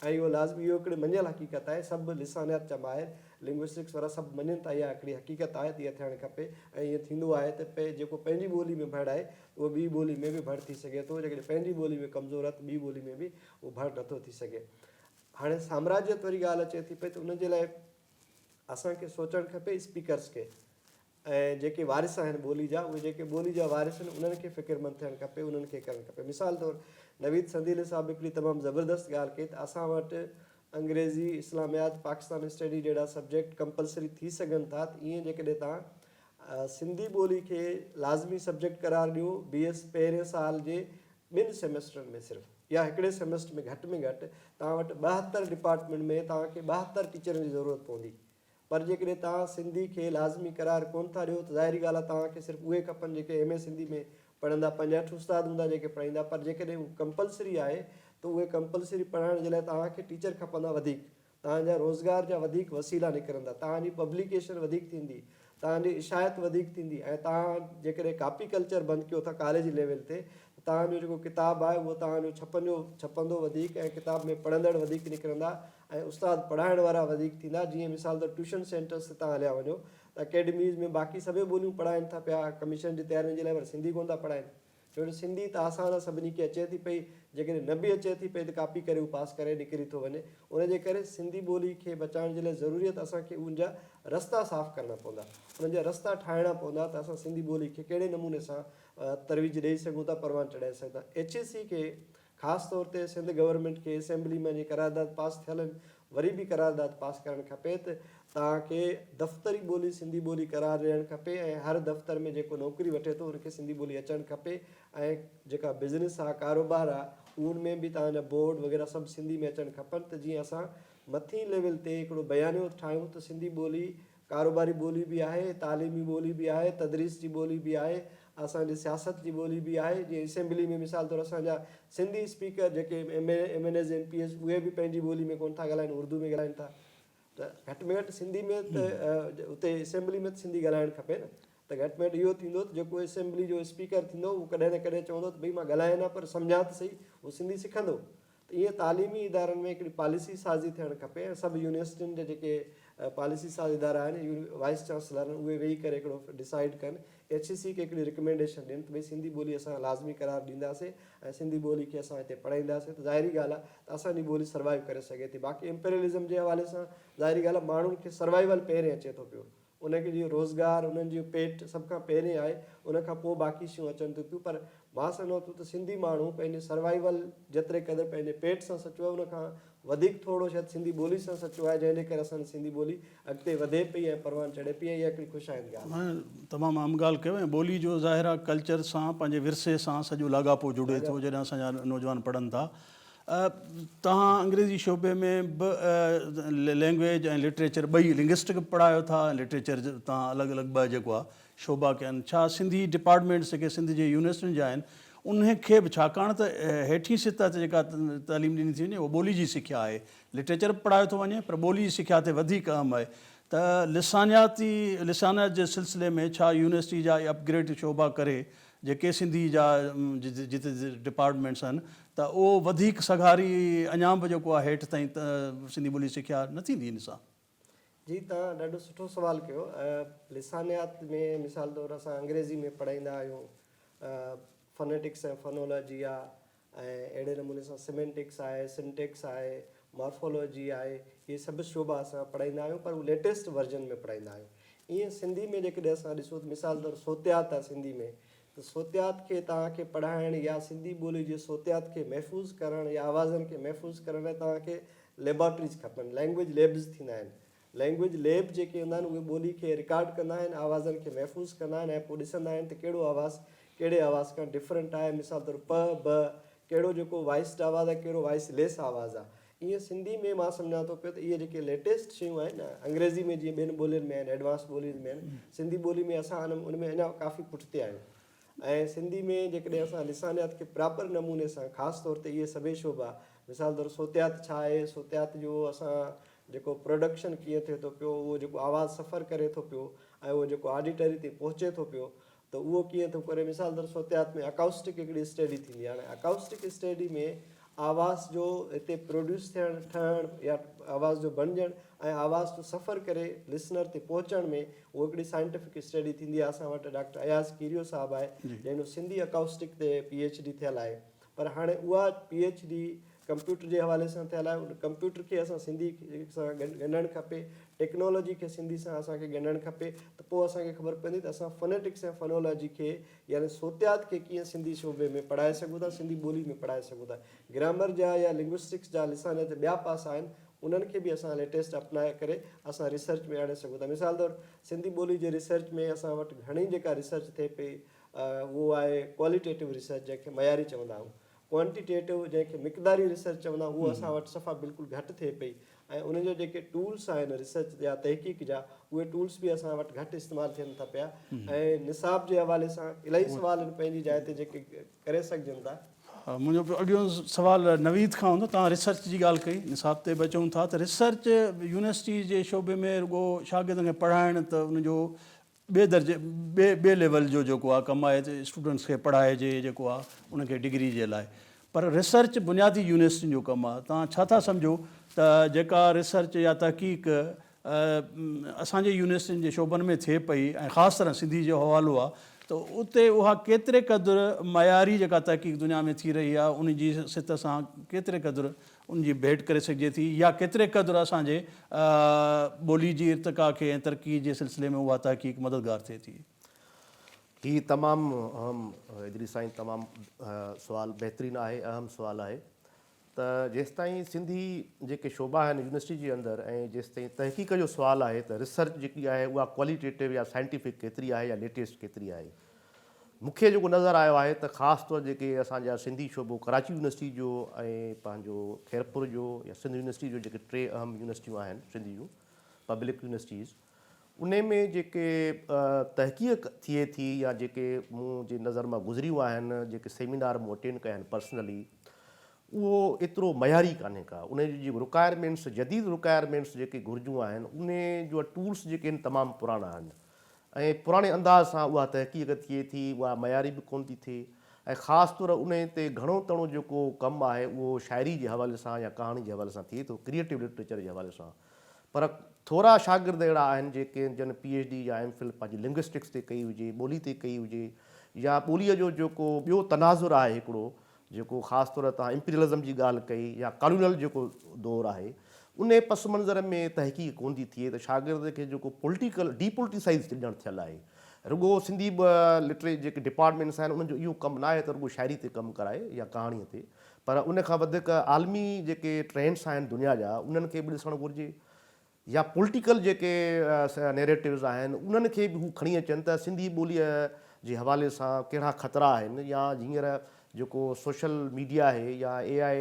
۽ اهو لازمي اهو هڪڙي مڃيل حقيقت آهي سڀ لسانيات جا ماهر Linguistics وارا سڀ مڃين ٿا اها هڪڙي حقيقت آهي ته اها ٿيڻ کپي ۽ ايئن ٿيندو آهي ته جيڪو پنهنجي ٻولي ۾ ڀڙ آهي اهو ٻي ٻولي ۾ به ڀڙ ٿي سگهي ٿو، جيڪڏهن پنهنجي ٻولي ۾ ڪمزور آهي ته ٻي ٻولي ۾ به اهو ڀڙ نه ٿو ٿي سگهي. هاڻي سامراجيت واري ڳالهه اچي ٿي پئي ته ان جي لاء اسان کي سوچڻ کپي اسپيڪرز کي ۽ جيڪي وارث آهن ٻولي جا اهي جيڪي ٻولي جا وارث آهن انهن کي فڪرمند ٿيڻ کپي انهن کي ڪرڻ کپي مثال طور نويد سنديلي صاحب هڪڙي تمام زبردست ڳالهه ڪئي ته اسان وٽ انگريزي اسلاميات پاڪستان اسٽڊي جهڙا سبجيڪٽ ڪمپلسري ٿي سگهن ٿا ته ايئن جيڪڏهن تان سنڌي ٻولي کي لازمي سبجيڪٽ قرار ڏيو، بي ايس پهرين سال جي ٻن سيمسٽرن ۾ صرف يا هڪڙي سيمسٽر ۾ گهٽ ۾ گهٽ توهان وٽ ٻاهتر ڊپارٽمينٽ ۾ توهان کي ٻاهتر ٽيچرن جي ضرورت پوندي پر جيڪڏهن توهان سنڌي کي لازمي قرار ڪونه ٿا ڏيو ته ظاهري ڳالهه آهي توهان کي صرف اهي کپن جيڪي ايم اي سنڌي ۾ پڙهندا پنجهٺ استاد هوندا جيڪي پڙهائيندا پر جيڪڏهن هو ڪمپلسري آهي ته اهي ڪمپلسري پڙهائڻ جي لاء توهان کي ٽيچر کپندا وڌيڪ توهان جا روزگار جا وڌيڪ وسيلا نڪرندا، توهان جي پبليڪيشن وڌيڪ ٿيندي، توهان جي اشاعت وڌيڪ ٿيندي ۽ توهان جيڪڏهن ڪاپي ڪلچر بند ڪيو ٿا ڪاليج ليول تي ته توهان جو جيڪو ڪتاب آهي اهو توهان جو ڇپنجو ڇپندو وڌيڪ ۽ ڪتاب ۾ پڙهندڙ وڌيڪ نڪرندا ۽ استاد پڙهائڻ وارا وڌيڪ ٿيندا جيئن مثال طور ٽيوشن سينٽرس تي توهان هليا وڃو ته اڪيڊميز ۾ باقي سڀيئي ٻوليون پڙهائين ٿا پيا ڪميشن جي تيارين جي لاء پر سنڌي ڪونه ٿا پڙهائين ڇو جو سنڌي ته آسان آ سڀني کي اچي ٿي پئي جيڪڏهن نه به اچي ٿي پئي ته ڪاپي ڪري هو پاس ڪري نڪري ٿو وڃي ان جي ڪري سنڌي ٻولي کي بچائڻ جي لاء ضروري آ ته اسان کي ان جا رستا صاف ڪرڻا پوندا انهن جا رستا ٺاهڻا پوندا ته اسان سنڌي ٻولي کي ڪهڙي نموني سان ترويج ڏئي سگهون ٿا پروان چڙهائي سگهون ٿا ايڇ اي سي کي خاص طور تي سنڌ گورنمينٽ کي اسيمبلي ۾ جي قرارداد پاس ٿيل آهن وري به قرارداد پاس ڪرڻ کپي ته تان ڪي دفتري ٻولي سنڌي ٻولي قرار ڏيڻ کپي ۽ هر دفتر ۾ جيڪو نوڪري وٺي ٿو ان کي سنڌي ٻولي اچڻ کپي ۽ جيڪا بزنس آ ڪاروبار آ ان ۾ به تان جا بورڊ وغيره سڀ سنڌي ۾ اچڻ کپن ته جيئن اسان مٿين ليول تي هڪڙو بيانيو ٺاهيون ته سنڌي ٻولي ڪاروباري ٻولي به آهي، تعليمي ٻولي به آهي، تدريس جي ٻولي به آهي، اسان جي سياست جي ٻولي به آهي، جيئن اسيمبلي ۾ مثال طور اسان جا سنڌي اسپيڪر جيڪي M N M N As M P As اهي به پنهنجي ٻولي ۾ ڪونه ٿا ڳالهائين اردو ۾ ڳالهائين ٿا ته گهٽ ۾ گهٽ سنڌي ۾ ته اتي اسيمبلي ۾ ته سنڌي ڳالهائڻ کپي نه ته گهٽ ۾ گهٽ اهو ٿيندو ته جيڪو اسيمبلي جو اسپيڪر ٿيندو اهو ڪڏهن نه ڪڏهن چوندو ته ڀئي مان ڳالهايان نه پر سمجهان ته سهي اهو سنڌي سکندو ته ايئن تعليمي ادارن ۾ هڪڙي پاليسي سازي ٿيڻ کپي ۽ سڀ يونيورسٽين جا جيڪي پاليسي ساز ادارا آهن وائيس چانسلر آهن اهي ويهي ڪري هڪڙو ڊسائيڊ ڪن ايڇ اي سي کي هڪڙي رڪمينڊيشن ڏين ته ڀئي سنڌي ٻولي اسان لازمي قرار ڏينداسين ۽ سنڌي ٻولي کي اسان هتي پڙهائينداسين ته ظاهري ڳالهه آهي ته اسان جي ٻولي سروائيو ڪري سگهي ٿي باقي امپيرلزم جي حوالي سان ظاهري ڳالهه آهي ماڻهن کي سروائيول پهرين اچي ٿو پيو انهن جو روزگار، انهن جو پيٽ سڀ کان پهرين آهي، ان کان پوء باقي شيون اچن ٿيون پيون پر مان سمجهان ٿو ته سنڌي ماڻهو پنهنجي سروائيول جيتري قدر پنهنجي پيٽ سان سچو آهي ان کان وڌيڪ ٿورڙو شايد سنڌي ٻولي سان سچو آهي جنهن جي ڪري اسان جي سنڌي ٻولي اڳتي وڌي پئي ۽ پروان چڙهي پئي ۽ اها هڪڙي خوش آئند ڳالهه آهي. تمام اهم ڳالهه ڪيو ۽
ٻولي جو ظاهر آهي ڪلچر سان پنهنجي ورثي سان سڄو لاڳاپو جڙي ٿو جڏهن اسان جا نوجوان پڙهن ٿا توهان انگريزي شعبي ۾ به لينگويج ۽ لٽريچر ٻئي لنگسٽڪ به پڙهايو ٿا ۽ لٽريچر توهان الڳ الڳ ٻه جيڪو آهي شعبا ڪيا آهن ڇا سنڌي ڊپارٽمينٽس جيڪي سنڌ جي يونيورسٽين جا آهن انهن کي به ڇاڪاڻ ته هيٺين سطح تي جيڪا تعليم ڏني ٿي وڃي اها ٻولي جي سکيا آهي لٽريچر به پڙهايو ٿو وڃي پر ٻولي جي سکيا تي وڌيڪ اهم آهي ته لسانياتي لسانيات جي سلسلي ۾ ڇا يونيورسٽي جا اهي اپ گريڊ شعبا ڪري جيڪي سنڌي جا جت ڊپارٽمينٽس آهن ته اهو وڌيڪ سگهاري اڃان به جيڪو آهي هيٺ تائين سنڌي ٻولي سکيا نه ٿيندي ان سان. جي توهان
ڏاڍو سٺو سوال ڪيو لسانيات ۾ مثال طور اسان انگريزي ۾ پڙهائيندا آهيون فنيٽڪس ۽ فنولاجي يا ۽ اهڙي نموني سان سيمينٽڪس آهي، سنٽيڪس آهي، مارفالاجي آهي، اهي سڀ شعبا اسان پڙهائيندا آهيون پر هو ليٽيسٽ ورجن ۾ پڙهائيندا آهيون. ايئن سنڌي ۾ جيڪڏهن اسان ڏسون ته مثال طور صوتيات آهي سنڌي ۾ ته صوتيات کي توهان کي پڙهائڻ يا سنڌي ٻولي جي صوتيات کي محفوظ ڪرڻ يا آوازن کي محفوظ ڪرڻ لاء توهان کي ليبارٽريز کپن، لينگويج ليبز ٿيندا آهن. لئنگويج ليب جيڪي هوندا آهن اهي ٻولي کي رڪارڊ ڪندا آهن آوازن کي محفوظ ڪندا آهن ۽ پوء ڏسندا آهن ته ڪهڙو آواز ڪهڙي آواز کان ڊفرنٽ آهي مثال طور پ ب ڪهڙو جيڪو وائسڊ آواز آهي ڪهڙو وائس ليس آواز آهي ايئن سنڌي ۾ مان سمجهان ٿو پيو ته اهي جيڪي ليٽيسٽ شيون آهن نه انگريزي ۾ جيئن ٻين ٻولين ۾ آهن ايڊوانس ٻولين ۾ آهن سنڌي ٻولي ۾ اسان ان ۾ اڃا ڪافي پٺتي آهيون ۽ سنڌي ۾ جيڪڏهن اسان لسانيات کي پراپر نموني سان خاص طور تي اهي سڀئي شعبا مثال طور صوتيات ڇا آهي، صوتيات جو اسان جيڪو پروڊڪشن ڪيئن ٿئي ٿو پيو، اهو جيڪو آواز سفر ڪري ٿو پيو ۽ اهو جيڪو آڊيٽري تي پهچي ٿو پيو ته اهو ڪيئن ٿو ڪري مثال طور صوتيات ۾ اڪائوسٽڪ هڪڙي اسٽيڊي ٿيندي آهي هاڻي اڪائوسٽڪ اسٽيڊي ۾ آواز جو هتي پروڊيوس ٿيڻ ٺهڻ يا آواز جو بڻجڻ ۽ آواز جو سفر ڪري لسنر تي پهچڻ ۾ اهو هڪڙي سائنٽيفڪ اسٽڊي ٿيندي آهي اسان وٽ ڊاڪٽر اياز ڪيريو صاحب آهي جنهن جو سنڌي اڪائوسٽڪ تي پي ايڇ ڊي ٿيل آهي پر هاڻي اها پي ايڇ ڊي ڪمپيوٽر جي حوالي سان ٿيل آهي ان ڪمپيوٽر کي اسان سنڌي سان ڳنڍڻ کپي ٽيڪنالاجي کي سنڌي سان اسان کي ڳنڍڻ کپي ته پوء اسان کي خبر پوندي ته اسان فونيٽڪس ۽ فونالاجي کي يعني صوتيات کي ڪيئن سنڌي شعبي ۾ پڙهائي سگهون ٿا سنڌي ٻولي ۾ پڙهائي سگهون ٿا گرامر جا يا لنگوسٽڪس جا لسانيات ٻيا پاسا آهن انهن کي به اسان ليٽيسٽ اپلائي ڪري اسان ريسرچ ۾ آڻي سگهون ٿا مثال طور سنڌي ٻولي جي ريسرچ ۾ اسان وٽ گهڻي جيڪا ريسرچ ٿئي پئي اهو آهي ڪواليٽيٽو ريسرچ جنهن کي معياري چوندا آهيون ڪوانٽيٽيٽو جنهن کي مقداري ريسرچ چوندا آهيون اهو اسان وٽ صفا بلڪل گهٽ ٿئي پئي ۽ انهن جا جيڪي ٽولس آهن ريسرچ جا تحقيق جا اهي ٽولس به اسان وٽ گهٽ استعمال ٿين ٿا پيا ۽ نصاب جي حوالي سان الاهي سوال آهن پنهنجي جاء تي جيڪي ڪري سگهجن ٿا. منهنجو اڳيون
سوال نويد کان هوندو، توهان ريسرچ جي ڳالهه ڪئي، نصاب تي به اچون ٿا ته ريسرچ يونيورسٽي جي شعبي ۾ رڳو شاگردن کي پڙهائڻ ته ان جو ٻئي درجي ٻئي ٻئي ليول جو جيڪو آهي ڪم آهي ته اسٽوڊنٽس کي پڙهائجي جيڪو آهي ان کي ڊگري جي لاء پر ريسرچ بنيادي يونيورسٽين جو ڪم آهي توهان ڇا ٿا سمجهو ته جيڪا ريسرچ يا تحقيق اسان جي يونيورسٽين جي شعبن ۾ ٿئي پئي ۽ خاص طرح سنڌي جو حوالو آ ته اتي اها ڪيتري قدر معياري جيڪا تحقيق دنيا ۾ ٿي رهي آ ان جي سٿ سان ڪيتري قدر ان جي ڀيٽ ڪري سگهجي ٿي يا ڪيتري قدر اسان جي ٻولي جي ارتقا کي ۽ ترقي جي سلسلي ۾ اها تحقيق مددگار ٿئي ٿي. هي
تمام اهم ادريس سائين تمام سوال بهترين آهي اهم سوال آهي. ته جيستائين سنڌي جيڪي شعبا آهن يونيورسٽي جي اندر ۽ جيستائين تحقيق جو سوال آهي ته ريسرچ جيڪي آهي اها ڪواليٽيٽو يا سائنٽيفڪ ڪيتري آهي يا ليٽيسٽ ڪيتري آهي. مون کي جيڪو نظر آيو آهي ته خاص طور جيڪي اسان جا سنڌي شعبو ڪراچي يونيورسٽي جو ۽ پنهنجو خيرپور جو يا سنڌ يونيورسٽي جو جيڪي ٽي اهم يونيورسٽيون آهن سنڌ جون پبلڪ يونيورسٽيز ان ۾ جيڪي تحقيق ٿئي ٿي يا جيڪي مون جي نظر مان گذريون آهن جيڪي سيمينار مون اٽينڊ ڪيا آهن پرسنلي اهو ايترو معياري ڪانهي ڪا ان جون جيڪي رڪائرمينٽس جديد رڪائرمينٽس جيڪي گهرجون آهن ان جا ٽولس جيڪي آهن تمام پراڻا آهن ۽ پراڻي انداز سان اها تحقيق ٿئي ٿي اها معياري به ڪونه ٿي ٿئي ۽ خاص طور ان تي گهڻو تڻو جيڪو ڪم آهي اهو شاعري جي حوالي سان يا ڪهاڻي جي حوالي سان ٿئي ٿو ڪريئيٽو لٽريچر جي حوالي سان پر ٿورا شاگرد اهڙا آهن جيڪي جن پي ايڇ ڊي يا ايم فل پنهنجي لنگوسٽڪس تي ڪئي هجي، ٻولي تي ڪئي هجي يا ٻوليء جو جيڪو ٻيو تناظر آهي هڪڙو جيڪو خاص طور توهان امپريلزم جي ڳالهه ڪئي يا ڪالونل جيڪو دور آهي انهي پس منظر ۾ تحقيق ڪونه ٿي ٿئي ته شاگرد کي جيڪو پولٽيڪل ڊي پولٽيسائيز ڄڻ ٿيل آهي. رڳو سنڌي لٽري جيڪي ڊپارٽمينٽس آهن انهن جو اهو ڪم ناهي ته رڳو شاعري تي ڪم ڪرائي يا ڪهاڻيء تي. پر ان کان وڌيڪ عالمي جيڪي ٽرينڊس آهن دنيا جا انهن کي به ڏسڻ گهرجي يا پولٽيڪل جيڪي نيريٽوز آهن انهن کي به هو کڻي اچن ته سنڌي ٻوليء جي حوالي سان ڪهڙا خطرا آهن يا هينئر جيڪو سوشل ميڊيا آهي يا اي آء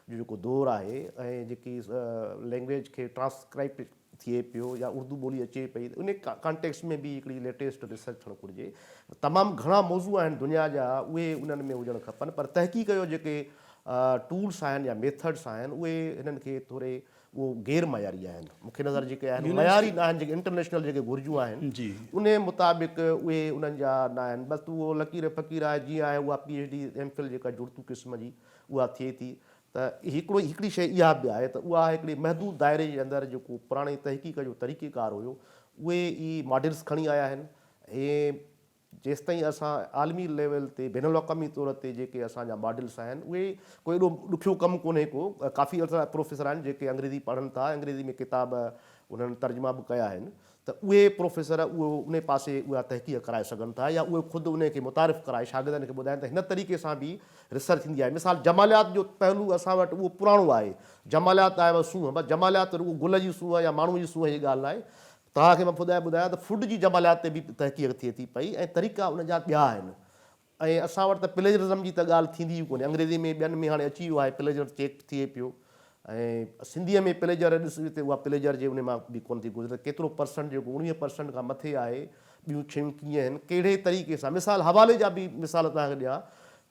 جو جيڪو دور آهي ۽ جيڪي لينگويج کي ٽرانسڪرائبشن ٿئي پيو يا اردو ٻولي اچي پئي ته ان ڪانٽيڪسٽ ۾ به هڪڙي ليٽيسٽ ريسرچ ٿيڻ گهرجي. تمام گهڻا موضوع آهن دنيا جا اهي انهن ۾ هجڻ کپن پر تحقيق جو جيڪي ٽولس آهن يا ميٿڊس آهن اهي هنن کي ٿوري اهو غير معياري آهن مون کي نظر جيڪي آهن معياري ناهن جيڪي انٽرنيشنل جيڪي گهرجون آهن انهي مطابق اهي انهن جا ناهن بس اهو لڪير فقير آهي جيئن آهي اها P H D M Phil جيڪا جڙتو قسم جي اها ٿئي ٿي ته هڪڙو هڪڙي شيء اها به آهي ته اها هڪڙي محدود دائري جي اندر جيڪو پراڻي تحقيق جو طريقه ڪار هيو اهي ئي ماڊلز کڻي آيا آهن ۽ جيستائين اسان عالمي ليول تي بين الاقوامي طور تي جيڪي اسان جا ماڊلز آهن اهي ڪو ايڏو ڏکيو ڪم ڪونهي ڪو ڪافي اهڙا پروفيسر آهن جيڪي انگريزي پڙهن ٿا انگريزي ۾ ڪتاب انهن ترجما به ڪيا آهن ته اهي پروفيسر اهو انهي پاسي اها تحقيق ڪرائي سگهن ٿا يا اهي خود انهي کي متعارف ڪرائي شاگردن کي ٻڌائين ته هن طريقي سان به ريسرچ ٿيندي آهي مثال جماليات جو پهلو اسان وٽ اهو پراڻو آهي جماليات آهي و سونهن بس جماليات رڳو گل جي سونهن يا ماڻهو جي سونهن جي ڳالهه ناهي توهان کي مان ٻڌايان ته فوڊ جي جماليات تي به تحقيق ٿئي ٿي پئي ۽ طريقا ان جا ٻيا آهن ۽ اسان وٽ ته پليجرزم جي ته ڳالهه ٿيندي ئي ڪونهي. انگريزي ۾ ٻين ۾ هاڻي اچي ويو آهي پليجر چيڪ ٿئي پيو ۽ سنڌيء ۾ پليجر ڏس ته اها پليجر جي ان مان به ڪونه ٿي گذري ته ڪيترو پرسنٽ جيڪو اوڻويهه پرسنٽ کان مٿي آهي ٻيون شيون ڪيئن هن ڪهڙي طريقي سان مثال حوالي جا به مثال توهان کي ڏيان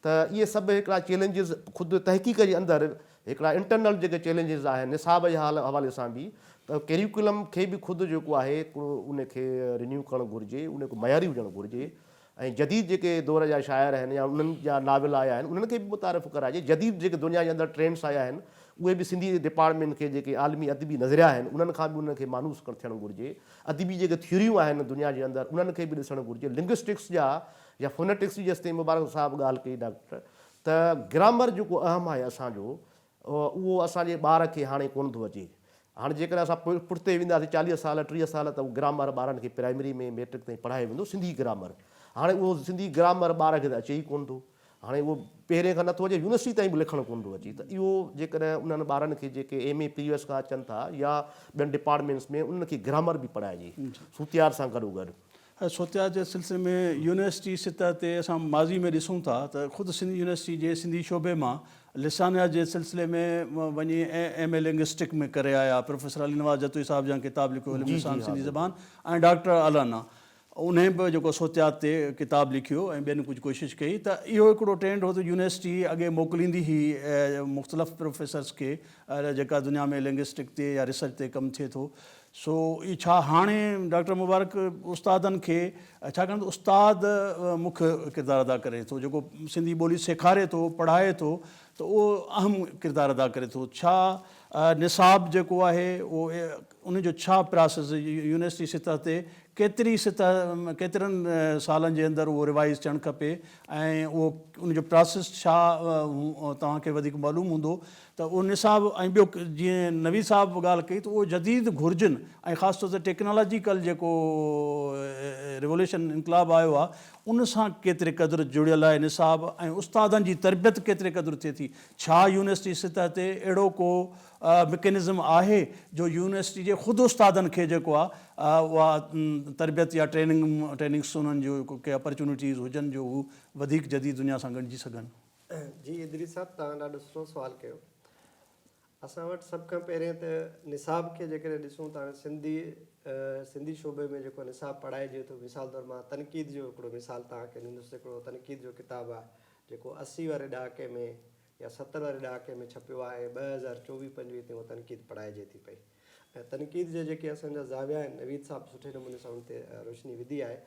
ته اهي سڀ هڪڙا چيلنجز خود تحقيق جي اندر هڪڙا انٽرنل جيڪي چيلنجز آهن نصاب جي حوالي سان به ته ڪيريوڪلم کي به خود جيڪو آهي هڪڙو ان کي رينيو ڪرڻ گهرجي ان کي معياري هجڻ گهرجي ۽ جديد جيڪي دور جا شاعر آهن يا انهن جا ناول آيا آهن انهن کي به متعارف ڪرائجي جديد جيڪي دنيا جي اندر ٽرينڊس آيا آهن اهي به سنڌي ڊپارٽمينٽ کي جيڪي عالمي ادبي نظريا آهن انهن کان به انهن کي مانوس ٿيڻ گهرجي ادبي جيڪي ٿيوريون آهن دنيا جي اندر انهن کي به ڏسڻ گهرجي لنگوسٽڪس جا يا فونيٽڪس جي جيستائين مبارڪ صاحب ڳالهه ڪئي ڊاڪٽر ته گرامر جيڪو اهم آهي اسان جو اهو اسان جي ٻار کي هاڻي ڪونه ٿو اچي. هاڻي جيڪڏهن اسان پٺتي وينداسين چاليهه سال، ٽيهه سال ته اهو گرامر ٻارن کي پرائمري ۾ ميٽرڪ تائين پڙهايو ويندو سنڌي گرامر. هاڻي اهو سنڌي گرامر ٻار کي ته اچي ئي ڪونه ٿو. هاڻي اهو پهرين کان نه ٿو اچي يونيورسٽي تائين به لکڻ ڪونه ٿو اچي ته اهو جيڪڏهن انهن ٻارن کي جيڪي ايم اي پريويس کان اچن ٿا يا ٻين ڊپارٽمينٽس ۾ انهن کي گرامر به پڙهائجي سوتيار سان گڏوگڏ. سوتيا جي
سلسلي ۾ يونيورسٽي سطح تي اسان ماضي ۾ ڏسون ٿا ته خود سنڌ يونيورسٽي جي سنڌي شعبي مان لسانيات جي سلسلي ۾ وڃي ايم اي لنگوسٽڪ ۾ ڪري آيا پروفيسر علي نواز جتوئي صاحب جيان ڪتاب لکيو علم لسان سنڌي زبان ۽ ڊاڪٽر الانا انهي به جيڪو سوتيات تي ڪتاب لکيو ۽ ٻين ڪجهه ڪوشش ڪئي ته اهو هڪڙو ٽرينڊ هو ته يونيورسٽي اڳي موڪليندي هئي مختلف پروفيسرس کي جيڪا دنيا ۾ لنگوسٽڪ تي يا ريسرچ تي ڪم ٿئي ٿو سو اي ڇا هاڻي ڊاڪٽر مبارڪ استادن کي ڇاڪاڻ ته استاد مک ڪردار ادا ڪري ٿو جيڪو سنڌي ٻولي سيکاري ٿو پڙهائي ٿو ته اهو اهم ڪردار ادا ڪري ٿو ڇا نصاب جيڪو آهي اهو ان جو ڇا پراسيس يونيورسٽي سطح تي ڪيتري سطح ڪيترن سالن جي اندر اهو ريوائز ٿيڻ کپي ۽ اهو ان جو پراسيس ڇا توهان کي وڌيڪ معلوم هوندو ته اهو نصاب ۽ ٻيو جيئن نويد صاحب به ڳالهه ڪئي ته اهو جديد گهرجن ۽ خاص طور تي ٽيڪنالاجيڪل جيڪو ريوليوشن انقلاب آيو آهي ان سان ڪيتري قدر جڙيل آهي نصاب ۽ استادن جي تربيت ڪيتري قدر ٿئي ٿي ڇا يونيورسٽي سطح تي اهڙو ڪو مڪينزم آهي جو يونيورسٽي جي خود استادن کي جيڪو آهي اها تربيت يا ٽريننگ ٽريننگس انهن جو ڪي اپرچونيٽيز هجن جو هو وڌيڪ جديد دنيا سان ڳنڊجي سگهن. جي ادريس
صاحب توهان ڏاڍو سٺو سوال ڪيو اسان وٽ سڀ کان پهرين ته نصاب کي جيڪڏهن ڏسون ته هاڻي سنڌي سنڌي شعبي ۾ جيڪو نصاب پڙهائجي ٿو مثال طور مان تنقيد جو هڪڙو مثال توهان کي ڏيندس هڪڙو تنقيد جو ڪتاب آهي جيڪو اسي واري ڏهاڪي ۾ يا ستر واري ڏهاڪي ۾ ڇپيو آهي ٻه هزار چوويهه پنجويهه تائين اها تنقيد پڙهائجي ٿي پئي ۽ تنقيد جا جيڪي اسان جا زاويا آهن نويد صاحب سٺي نموني سان ان تي روشني وڌي آهي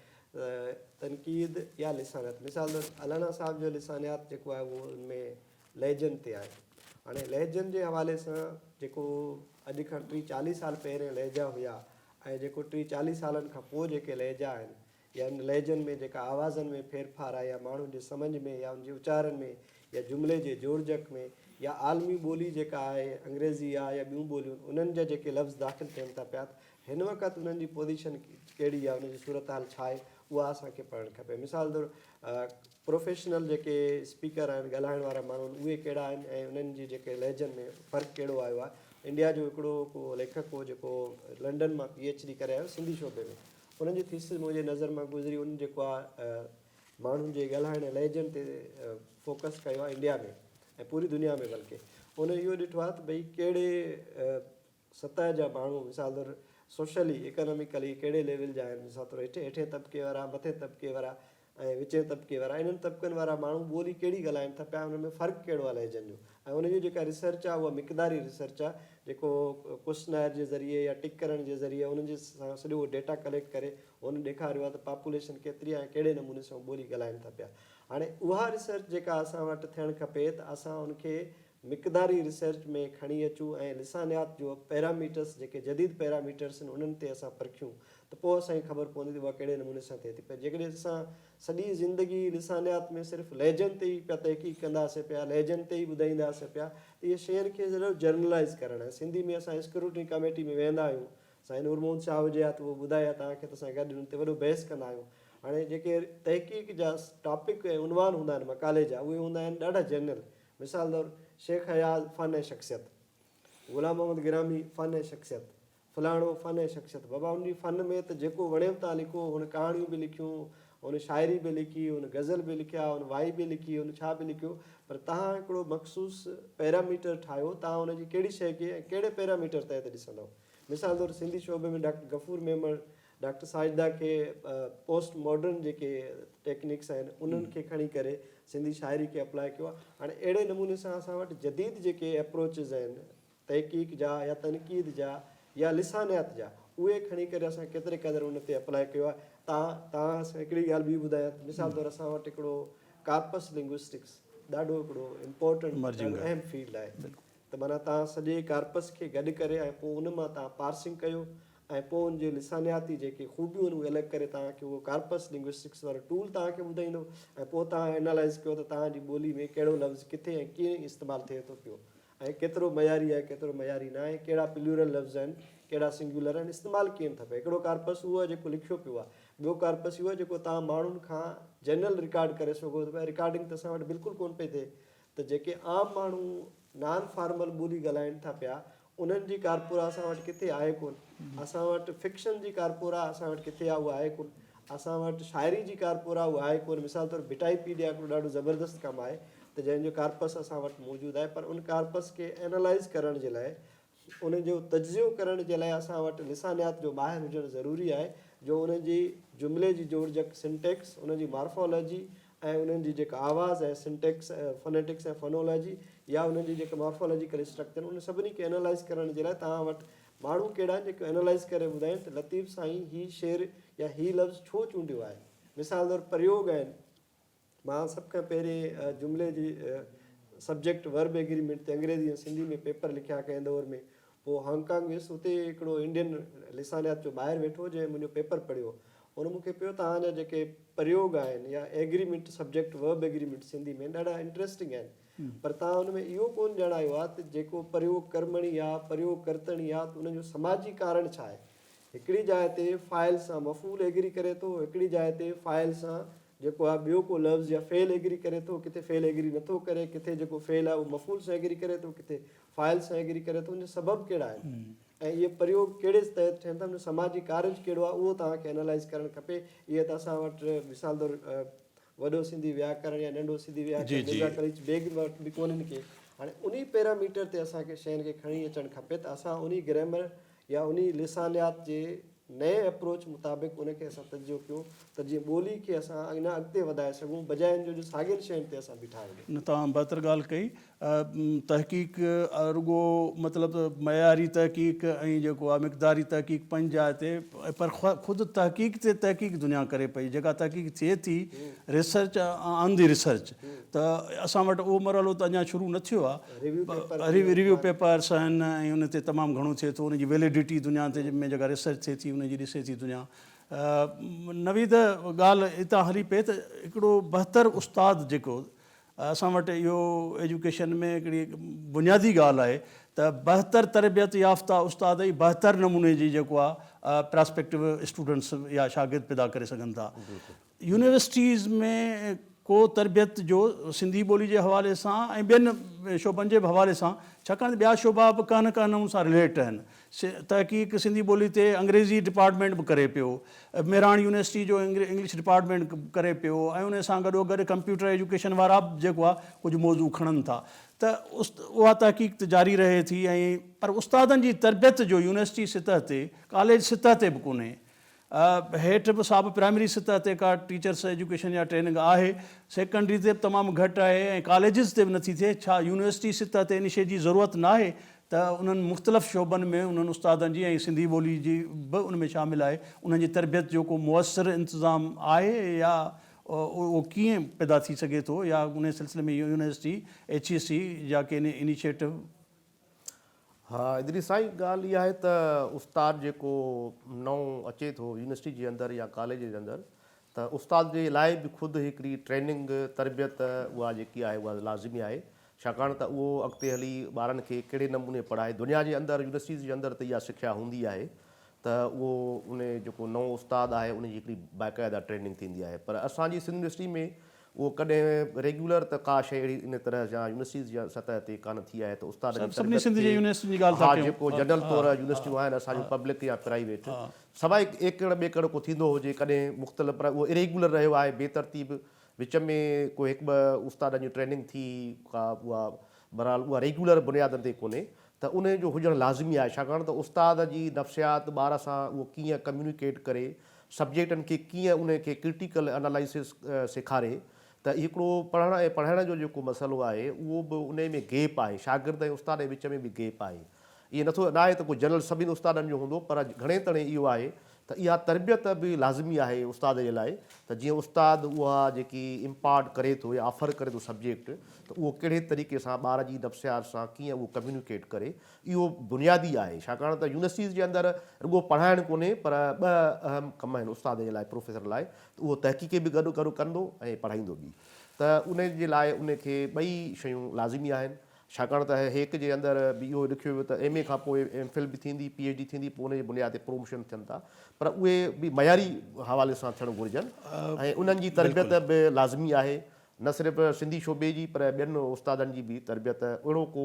تنقيد يا لسانيات مثال طور الانا صاحب جو لسانيات جيڪو آهي اهو ان ۾ لهجن تي آهي هاڻي لهجن جي حوالي سان جيڪو اڄ کان ٽي چاليهه سال پهرين لهجا هيا ۽ جيڪو ٽي چاليهه سالن کان پوء جيڪي لهجا آهن يا ان لهجن ۾ جيڪا آوازن ۾ ڦير ڦار آهي يا ماڻهن جي سمجهه ۾ يا ان جي اچارن ۾ يا جملي جي جوڙجڪ ۾ يا عالمي ٻولي جيڪا آهي انگريزي يا يا ٻيون ٻوليون انهن جا جيڪي لفظ داخل ٿين ٿا پيا ته هن وقت انهن جي پوزيشن ڪهڙي يا ان جي صورتحال ڇا آهي اها اسان کي پڙهڻ کپي مثال طور پروفيشنل جيڪي اسپيڪر آهن ڳالهائڻ وارا ماڻهو آهن اهي ڪهڙا آهن ۽ انهن جي جيڪي لهجن ۾ فرق ڪهڙو آيو آهي انڊيا جو هڪڙو ڪو ليکڪ هو جيڪو لنڊن مان پي ايڇ ڊي ڪري آيو سنڌي شعبي ۾ انهن جو ٿيسز منهنجي نظر مان گذري ان جيڪو آ ماڻهن جي ڳالهائڻ ۽ لهجن تي فوڪس ڪيو آ انڊيا ۾ ۽ پوري دنيا ۾ بلڪه انهن اهو ڏٺو آ ته ڀئي ڪهڙي سطح جا ماڻهو مثال طور سوشلي ايڪاناميڪلي ڪهڙي ليول جا آهن مثال طور هيٺين طبقي وارا مٿين طبقي وارا ۽ وچين طبقي وارا انهن طبقن وارا ماڻهو ٻولي ڪهڙي ڳالهائين ٿا پيا انهن ۾ فرق ڪهڙو آ لهجن جو ۽ ان جي جيڪا ريسرچ آ اها مقداري ريسرچ آ جيڪو ڪوسٽنائر جي ذريعي يا ٽڪ ڪرڻ جي ذريعي انهن جي سان سڄو اهو ڊيٽا ڪليڪٽ ڪري هن ڏيکاريو آ ته پاپوليشن ڪيتري آ ۽ ڪهڙي نموني سان ٻولي ڳالهائين ٿا پيا هاڻي اها ريسرچ جيڪا اسان وٽ ٿيڻ کپي ته اسان ان کي مقداري ريسرچ ۾ کڻي اچون ۽ لسانيات جو پيراميٽرس جيڪي جديد پيراميٽرس آهن انهن تي اسان پرکيون ته پوء اسان کي خبر پوندي ته اها ڪهڙي نموني سان ٿئي ٿي پر جيڪڏهن اسان سڄي زندگي لسانيات ۾ صرف لهجن تي ئي پيا تحقيق ڪنداسين پيا لهجن تي ئي ٻڌائينداسين پيا ته اهي شين کي صرف جرنلائز ڪرڻ ۽ سنڌي ۾ اسان اسڪروٽني ڪاميٽي ۾ ويهندا آهيون سائين نور محمد شاهه هجي ها ته اهو ٻڌائي ها توهان کي ته اسان گڏ انهن تي وڏو بحث ڪندا آهيون هاڻي جيڪي تحقيق جا ٽاپڪ ۽ عنوان هوندا آهن مقالي جا اهي هوندا آهن ڏاڍا جنرل مثال طور، شيخ اياز فن ۽ شخصيت، غلام محمد گرامي فن ۽ شخصيت، فلاڻو فن ۽ شخصيت. بابا ان جي فن ۾ ته جيڪو وڻيم تان لکو، هن ڪهاڻيون به لکيون، هن شاعري به لکي، هن غزل به لکيا، هن وائي به لکي، هن ڇا به لکيو، پر تهان هڪڙو مخصوص پيراميٽر ٺاهيو، تهان ان جي ڪهڙي شيء کي ۽ ڪهڙي پيراميٽر تحت ڏسندؤ. مثال طور، سنڌي شعبي ۾ ڊاڪٽر غفور ميمڻ ڊاڪٽر ساجده کي پوسٽ ماڊرن جيڪي ٽيڪنڪس آهن انهن کي کڻي ڪري سنڌي شاعري کي اپلاء ڪيو آهي هاڻي اهڙي نموني سان اسان وٽ جديد جيڪي اپروچز آهن تحقيق جا يا تنقيد جا يا لسانيات جا اهي کڻي ڪري اسان ڪيتري قدر ان تي اپلاء ڪيو آهي تان تان هڪڙي ڳالهه ٻي ٻڌايان ته مثال طور اسان وٽ هڪڙو ڪارپس لنگوسٽڪس ڏاڍو هڪڙو امپورٽنٽ اهم فيلڊ آهي ته معنيٰ تان سڄي ڪارپس کي گڏ ڪري ۽ پوء ان مان تان پارسنگ ڪيو ۽ پوء ان جي لسانياتي جيڪي خوبيون آهن اهي الڳ ڪري تان کي اهو ڪارپس لنگوسٽڪس وارو ٽول تان کي ٻڌائيندو ۽ پوء تان اينالائز ڪيو ته تان جي ٻولي ۾ ڪهڙو لفظ ڪٿي ۽ ڪيئن استعمال ٿئي ٿو پيو ۽ ڪيترو معياري آهي ڪيترو معياري ناهي ڪهڙا پليورل لفظ آهن ڪهڙا سنگيولر آهن استعمال ڪيئن ٿا پيا هڪڙو ڪارپس اهو آهي جيڪو لکيو پيو آهي ٻيو ڪارپس اهو آهي جيڪو تان ماڻهن کان جنرل رڪارڊ ڪري سگهو ٿو پيا رڪارڊنگ ته اسان وٽ بلڪل ڪون پئي ٿئي ته جيڪي عام ماڻهو نان فارمل ٻولي ڳالهائين ٿا پيا انهن جي ڪارپورا اسان وٽ ڪٿي آهي ڪونه اسان وٽ فڪشن جي ڪارپورا اسان وٽ ڪٿي آهي اها آهي ڪونه اسان وٽ شاعري جي ڪارپورا اها آهي ڪونه مثال طور ڀٽائي پيڊيا هڪڙو ڏاڍو زبردست ڪم آهي ته جنهن جو ڪارپس اسان وٽ موجود آهي پر ان ڪارپس کي اينالائز ڪرڻ جي لاء انهن جو تجزيو ڪرڻ جي لاء اسان وٽ لسانيات جو ماهر هجڻ ضروري آهي، جو انهن جي جملي جي جوڙجڪ، Syntax، انهن جي مارفالاجي ۽ انهن جي جيڪا آواز آهي، Syntax، Phonetics ۽ Phonology، يا انهن جي جيڪا مارفالاجيڪل اسٽرڪچر، انهن سڀني کي انالائز ڪرڻ جي لاء توهان وٽ ماڻهو ڪهڙا آهن، جيڪي انالائز ڪري ٻڌائين ته لطيف سائين هي شعر يا هي لفظ ڇو چونڊيو آهي. مثال طور پريوگ آهن. مان سڀ کان پهرين جملي جي سبجيڪٽ ورب ايگريمينٽ تي انگريزي ۽ سنڌي ۾ پيپر لکيا ڪنهن دور ۾ پوء هانگ ڪانگ ويس اتي هڪڙو انڊين لسانيات جو ماهر ويٺو جنهن منهنجو پيپر پڙهيو هن مون کي پيو توهان جا جيڪي پريوگ آهن يا agreement subject verb agreement Sindhi ۾ ڏاڍا انٽريسٽنگ آهن پر توهان ان ۾ اهو ڪون ڄاڻايو آهي ته جيڪو پريوگ ڪرمڻي يا پريوگ ڪرتڻي يا ان جو سماجي ڪارڻ ڇا آهي هڪڙي جاء تي فاعل سان مفعول ايگري ڪري ٿو، هڪڙي جاء تي فاعل سان جيڪو آهي ٻيو ڪو لفظ يا فعل ايگري ڪري ٿو، ڪٿي فعل ايگري نه ٿو ڪري، ڪٿي جيڪو فعل آهي اهو مفعول سان ايگري ڪري ٿو، ڪٿي فاعل سان ايگري ڪري ٿو، ان جا سبب ڪهڙا آهن ۽ اهي پريوگ ڪهڙي تحت ٿين ٿا، ان جو سماجي ڪارج ڪهڙو آهي اهو توهان کي انالائز ڪرڻ کپي، اهي ته اسان وٽ مثال طور وڏو سنڌي وياڪرڻ يا ننڍو سنڌي وياڪرڻ مرزا قليچ بيگ وٽ به ڪونهن ڪي هاڻي انهي پيراميٽر تي اسان کي شين کي کڻي اچڻ کپي ته اسان انهي گرامر يا انهي لسانيات جي نئين اپروچ مطابق ان کي اسان تجزيو ڪيون ته جيئن ٻولي کي اسان اڃا اڳتي وڌائي سگهون بجاء ان جو جو ساڳين شين تي اسان بيٺا هجون. نه توهان بهتر ڳالهه
ڪئي تحقيق رڳو مطلب ته معياري تحقيق ۽ جيڪو آ مقداري تحقيق پنهنجي جاء تي پر خود تحقيق تي تحقيق دنيا ڪري پئي جيڪا تحقيق ٿئي ٿي ريسرچ آن دي ريسرچ ته اسان وٽ اهو مرحلو ته اڃا شروع نه ٿيو آ ريويو پيپرس آهن ۽ ان تي تمام گهڻو ٿئي ٿو ان جي ويليڊيٽي دنيا تي ۾ جيڪا ريسرچ ٿئي ٿي ان جي ڏسي ٿي دنيا نويد ڳالهه اتان هلي پئي ته هڪڙو بهتر استاد جيڪو اسان وٽ اهو ايجوڪيشن ۾ هڪڙي بنيادي ڳالهه آهي ته بهتر تربيت يافته استاد ئي بهتر نموني جي جيڪو آهي پراسپيڪٽو اسٽوڊنٽس يا شاگرد پيدا ڪري سگهن ٿا. يونيورسٽيز ۾ ڪو تربيت جو سنڌي ٻولي جي حوالي سان ۽ ٻين شعبن جي به حوالي سان ڇاڪاڻ ته ٻيا شعبا به ڪنهن نه ڪنهن نموني سان رليٽ آهن. تحقيق سنڌي ٻولي تي انگريزي ڊپارٽمينٽ به ڪري پيو. مهراڻ يونيورسٽي جو انگلش ڊپارٽمينٽ ڪري پيو ۽ ان سان گڏوگڏ ڪمپيوٽر ايجوڪيشن وارا به جيڪو آهي ڪجهه موضوع کڻن ٿا ته اها تحقيق ته جاري رهي ٿي ۽ پر استادن جي تربيت جو يونيورسٽي سطح تي ڪاليج سطح تي به ڪونهي. هيٺ به سا به پرائمري سطح تي ڪا ٽيچرس ايجوڪيشن يا ٽريننگ آهي. سيڪنڊري تي به تمام گهٽ آهي ۽ ڪاليجز تي به نٿي ٿئي. ڇا يونيورسٽي سطح تي ان شيء جي ضرورت ناهي ته انهن مختلف شعبن ۾ انهن استادن جي ۽ سنڌي ٻولي جي به ان ۾ شامل آهي انهن جي تربيت جو ڪو موثر انتظام آهي يا اهو ڪيئن پيدا ٿي سگهي ٿو يا انهي سلسلي ۾ يونيورسٽي، ايڇ اي سي جا ڪي انيشيٽو.
ها ادريس سائين ڳالهه اها آهي ته استاد جيڪو نئون اچي ٿو يونيورسٽي جي اندر يا ڪاليج جي اندر ته استاد جي لاء به خود هڪڙي ٽريننگ تربيت اها جيڪي آهي اها لازمي آهي ڇاڪاڻ ته اهو اڳتي هلي ٻارن کي ڪهڙي نموني پڙهائي دنيا جي اندر يونيورسٽيز جي اندر ته اها سکيا هوندي آهي ته اهو ان جيڪو نئون استاد آهي ان جي هڪڙي باقاعده ٽريننگ ٿيندي آهي پر اسان جي سنڌ يونيورسٽي ۾ اهو ڪڏهن ريگيولر ته ڪا شيء اهڙي ان طرح جا يونيورسٽيز جي سطح تي ڪانه ٿي آهي ته استاد جي تربيت ٿئي ها جيڪو جنرل طور يونيورسٽيون آهن اسان جون پبلڪ يا پرائيويٽ سواء ايڪڙ ٻيڪڙ ڪو ٿيندو هجي ڪڏهن مختلف پر اهو اريگيولر رهيو آهي بي ترتيب وچ ۾ ڪو هڪ ٻه استادن جي ٽريننگ ٿي ڪا اها بهرحال اها ريگيولر بنيادن تي ڪونهي ته ان جو هجڻ لازمي آهي ڇاڪاڻ ته استاد جي نفسيات ٻار سان اهو ڪيئن ڪميونيڪيٽ ڪري سبجيڪٽن کي ڪيئن انهن کي ڪرٽيڪل انالائسس سيکاري ته هڪڙو پڙهڻ ۽ پڙهائڻ جو جيڪو مسئلو آهي اهو به انهي ۾ گيپ آهي شاگرد ۽ استاد جي وچ ۾ به گيپ آهي ائين نٿو ناهي ته ڪو جنرل سڀني استادن جو هوندو پر گهڻي تڻي اهو آهي ته اها تربيت به لازمي آهي استاد جي لاء ته جيئن استاد اها جيڪي امپارٽ ڪري ٿو يا آفر ڪري ٿو سبجيڪٽ ته اهو ڪهڙي طريقي سان ٻار جي نفسيات سان ڪيئن اهو ڪميونيڪيٽ ڪري اهو بنيادي آهي، ڇاڪاڻ ته يونيورسٽيز جي اندر رڳو پڙهائڻ ڪونهي پر ٻه اهم ڪم آهن استاد جي لاء، پروفيسر لاء ته اهو تحقيقي به گڏ گڏ ڪندو ۽ پڙهائيندو به ته ان جي لاء ان کي ٻئي شيون لازمي آهن، ڇاڪاڻ ته هيڪ جي اندر به اهو لکيو ويو ته ايم اي کان پوء ايم فل به ٿيندي، پي ايڇ ڊي ٿيندي پوء ان جي بنياد تي پروموشن ٿين ٿا پر اهي به معياري حوالي سان ٿيڻ گهرجن ۽ انهن جي تربيت به لازمي آهي. نه صرف سنڌي شعبي جي پر ٻين استادن جي به تربيت اهڙو ڪو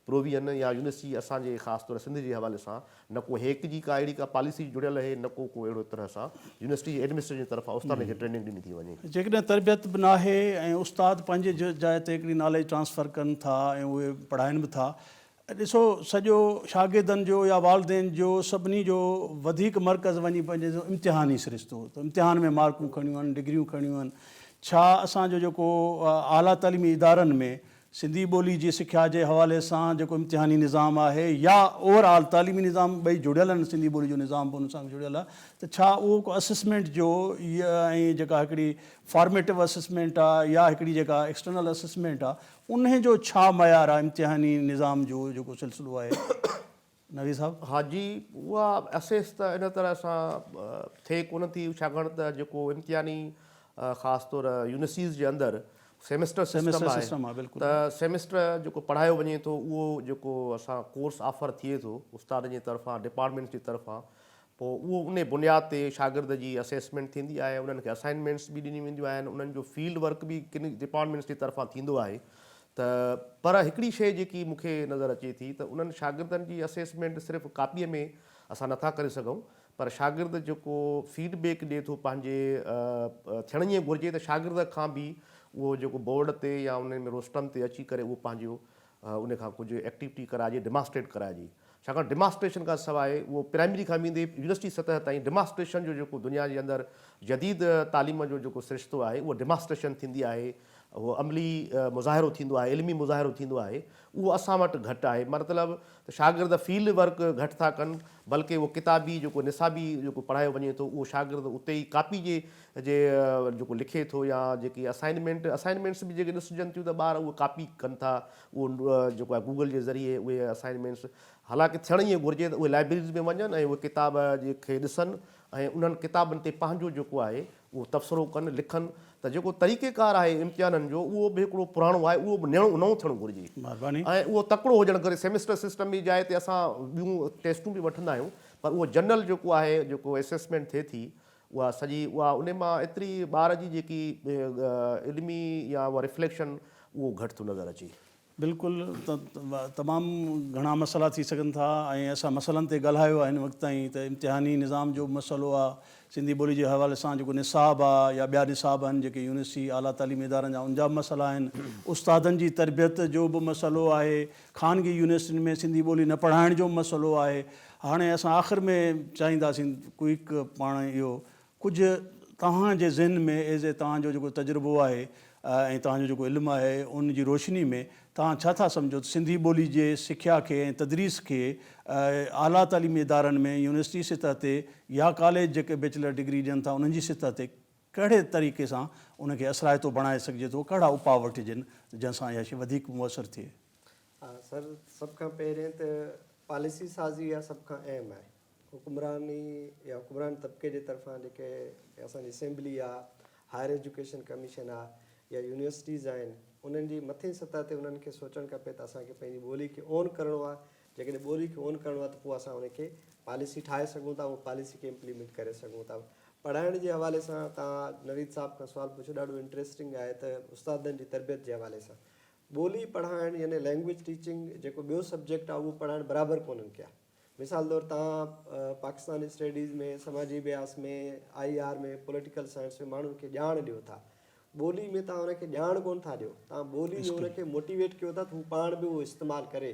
پروويزن يا يونيورسٽي اسان جي خاص طور سنڌ جي حوالي سان نه ڪو هيڪ جي ڪا اهڙي ڪا پاليسي جڙيل اهي نه ڪو ڪو اهڙو طرح سان يونيورسٽي جي ايڊمنسٽريشن جي طرفان استادن کي ٽريننگ ڏني ٿي وڃي. جيڪڏهن تربيت به
ناهي ۽ استاد پنهنجي جاء تي هڪڙي ناليج ٽرانسفر ڪن ٿا ۽ اهي پڙهائين به ٿا ڏسو سڄو شاگردن جو يا والدين جو سڀني جو وڌيڪ مرڪز وڃي پنهنجي سو امتحان ئي سرشتو ته امتحان ۾ مارڪون کڻيون آهن ڊگريون کڻيون آهن ڇا اسان جو جيڪو اعليٰ تعليمي ادارن ۾ سنڌي ٻولي جي سکيا جي حوالي سان جيڪو امتحاني نظام آهي يا اوور آل تعليمي نظام ٻئي جڙيل آهن سنڌي ٻولي جو نظام به ان سان جڙيل آهي ته ڇا اهو ڪو اسسمينٽ جو ۽ جيڪا هڪڙي فارميٽو اسسمينٽ آهي يا هڪڙي جيڪا ايڪسٽرنل اسسمينٽ آهي انهي جو ڇا معيار آهي امتحاني نظام جو جيڪو سلسلو آهي نويد صاحب. ها جي اها
اسيس ته ان طرح سان ٿئي ڪونه ٿي ڇاڪاڻ ته جيڪو امتحاني خاص طور يونيسيز جي اندر سيمسٽر سسٽم آهي ته سيمسٽر جيڪو پڙهايو وڃي ٿو اهو جيڪو اسان ڪورس آفر ٿئي ٿو استادن جي طرفان ڊپارٽمينٽس جي طرفان پوء اهو انهي بنياد تي شاگرد جي اسيسمينٽ ٿيندي آهي، انهن کي اسائنمينٽس به ڏنيون وينديون آهن، انهن جو فيلڊ ورڪ به ڪن ڊپارٽمينٽس جي طرفان ٿيندو آهي ته پر هڪڙي شيء جيڪي مون کي نظر اچي ٿي ته انهن شاگردن جي اسيسمينٽ صرف ڪاپيء ۾ اسان نٿا ڪري سگهون پر شاگرد جيڪو فيڊ بيڪ ڏي ٿو پنهنجي ٿيڻ ائين گهرجي ته شاگرد کان به اهو جيڪو بورڊ تي يا انهن ۾ روسٽرم تي اچي ڪري اهو پنهنجو ان کان ڪجهه ايڪٽيوٽي ڪرائجي، ڊيماسٽريٽ ڪرائجي. ڇاڪاڻ ڊيماسٽريشن کان سواء اهو پرائمري کان ويندي يونيورسٽي سطح تائين ڊيماسٽريشن جو جيڪو دنيا جي اندر جديد تعليم جو جيڪو سرشتو آهي اهو ڊيماسٽريشن ٿيندي آهي، اهو عملي مظاهرو ٿيندو آهي، علمي مظاهرو ٿيندو آهي، اهو اسان وٽ گهٽ آهي. مطلب ته شاگرد فيلڊ ورڪ گهٽ ٿا ڪن بلڪه اهو ڪتابي جيڪو نصابي جيڪو پڙهايو وڃي ٿو اهو شاگرد اتي ئي ڪاپي جي جي جيڪو لکي ٿو يا جيڪي اسائنمينٽ اسائنمينٽس به جيڪي ڏسجن ٿيون ته ٻار اهو ڪاپي ڪن ٿا اهو جيڪو آهي گوگل جي ذريعي اهي اسائنمينٽس حالانڪه ٿيڻ ائين گهرجي ته اهي لائبريريز ۾ وڃن ۽ اهي ڪتاب جي کي ڏسن ۽ انهن ڪتابن تي پنهنجو جيڪو آهي اهو تبصرو ڪن لکن ته جيڪو طريقي ڪار آهي امتحانن جو اهو به هڪڙو پراڻو آهي اهو به نئون نئون ٿيڻ گهرجي ۽ اهو تڪڙو هجڻ گهرجي سيمسٽر سسٽم جي جاء تي اسان ٻيون ٽيسٽون به وٺندا آهيون پر اهو جنرل جيڪو آهي جيڪو اسيسمينٽ ٿئي ٿي اها سڄي اها انهي مان ايتري ٻار جي جيڪي علمي يا اها ريفليڪشن اهو گهٽ ٿو نظر اچي. بلڪل
تمام گهڻا مسئلا ٿي سگهن ٿا ۽ اسان مسئلن تي ڳالهايو آهي هن وقت تائين ته امتحاني نظام جو به مسئلو آهي سنڌي ٻولي جي حوالي سان جيڪو نصاب آهي يا ٻيا نصاب آهن جيڪي يونيورسٽي اعليٰ تعليمي ادارن جا ان جا به مسئلا آهن استادن جي تربيت جو به مسئلو آهي خانگي يونيورسٽين ۾ سنڌي ٻولي نه پڙهائڻ جو به مسئلو آهي. هاڻي اسان آخر ۾ چاهينداسين ڪوئڪ پاڻ اهو ڪجهه توهان جي ذهن ۾ ايز اي توهان جو جيڪو تجربو آهي ۽ توهان جو جيڪو علم آهي ان جي روشني ۾ توهان ڇا ٿا سمجهو ته سنڌي ٻولي جي سکيا کي ۽ تدريس کي اعليٰ تعليمي ادارن ۾ يونيورسٽي سطح تي يا ڪاليج جيڪي بيچلر ڊگري ڏين ٿا انهن جي سطح تي ڪهڙي طريقي سان ان کي اثرائتو بڻائي سگهجي ٿو، ڪهڙا اپاء وٺجن جنهن سان اها شيء وڌيڪ موثر ٿئي؟ ها سر،
سڀ کان پهرين ته پاليسي سازي اها سڀ کان اهم آهي. حڪمراني يا حڪمران طبقي جي طرفان جيڪي اسان جي اسيمبلي آ، هائر ايجوڪيشن ڪميشن آ يا يونيورسٽيز آهن انهن جي مٿين سطح تي انهن کي سوچڻ کپي ته اسان کي پنهنجي ٻولي کي اون ڪرڻو آ، جيڪڏهن ٻولي کي اون ڪرڻو آهي ته پوء اسان ان کي پاليسي ٺاهي سگهون ٿا ۽ پاليسي کي امپليمينٽ ڪري سگهون ٿا. پڙهائڻ جي حوالي سان توهان نويد صاحب کان سوال پڇيو ڏاڍو انٽريسٽنگ آهي ته استادن جي تربيت جي حوالي سان ٻولي پڙهائڻ يعني لينگويج ٽيچنگ جيڪو ٻيو سبجيڪٽ آهي اهو پڙهائڻ برابر ڪونهن ڪيا مثال طور توهان پاڪستان اسٽيڊيز ۾ سماجي ابياس ۾ آئي آر ۾ پوليٽيڪل سائنس ۾ ماڻهن کي ڄاڻ ڏيو ٿا ٻولي ۾ توهان هن کي ڄاڻ ڪونه ٿا ڏيو، توهان ٻولي ۾ هن کي موٽيويٽ ڪيو ٿا ته هو پاڻ به اهو استعمال ڪري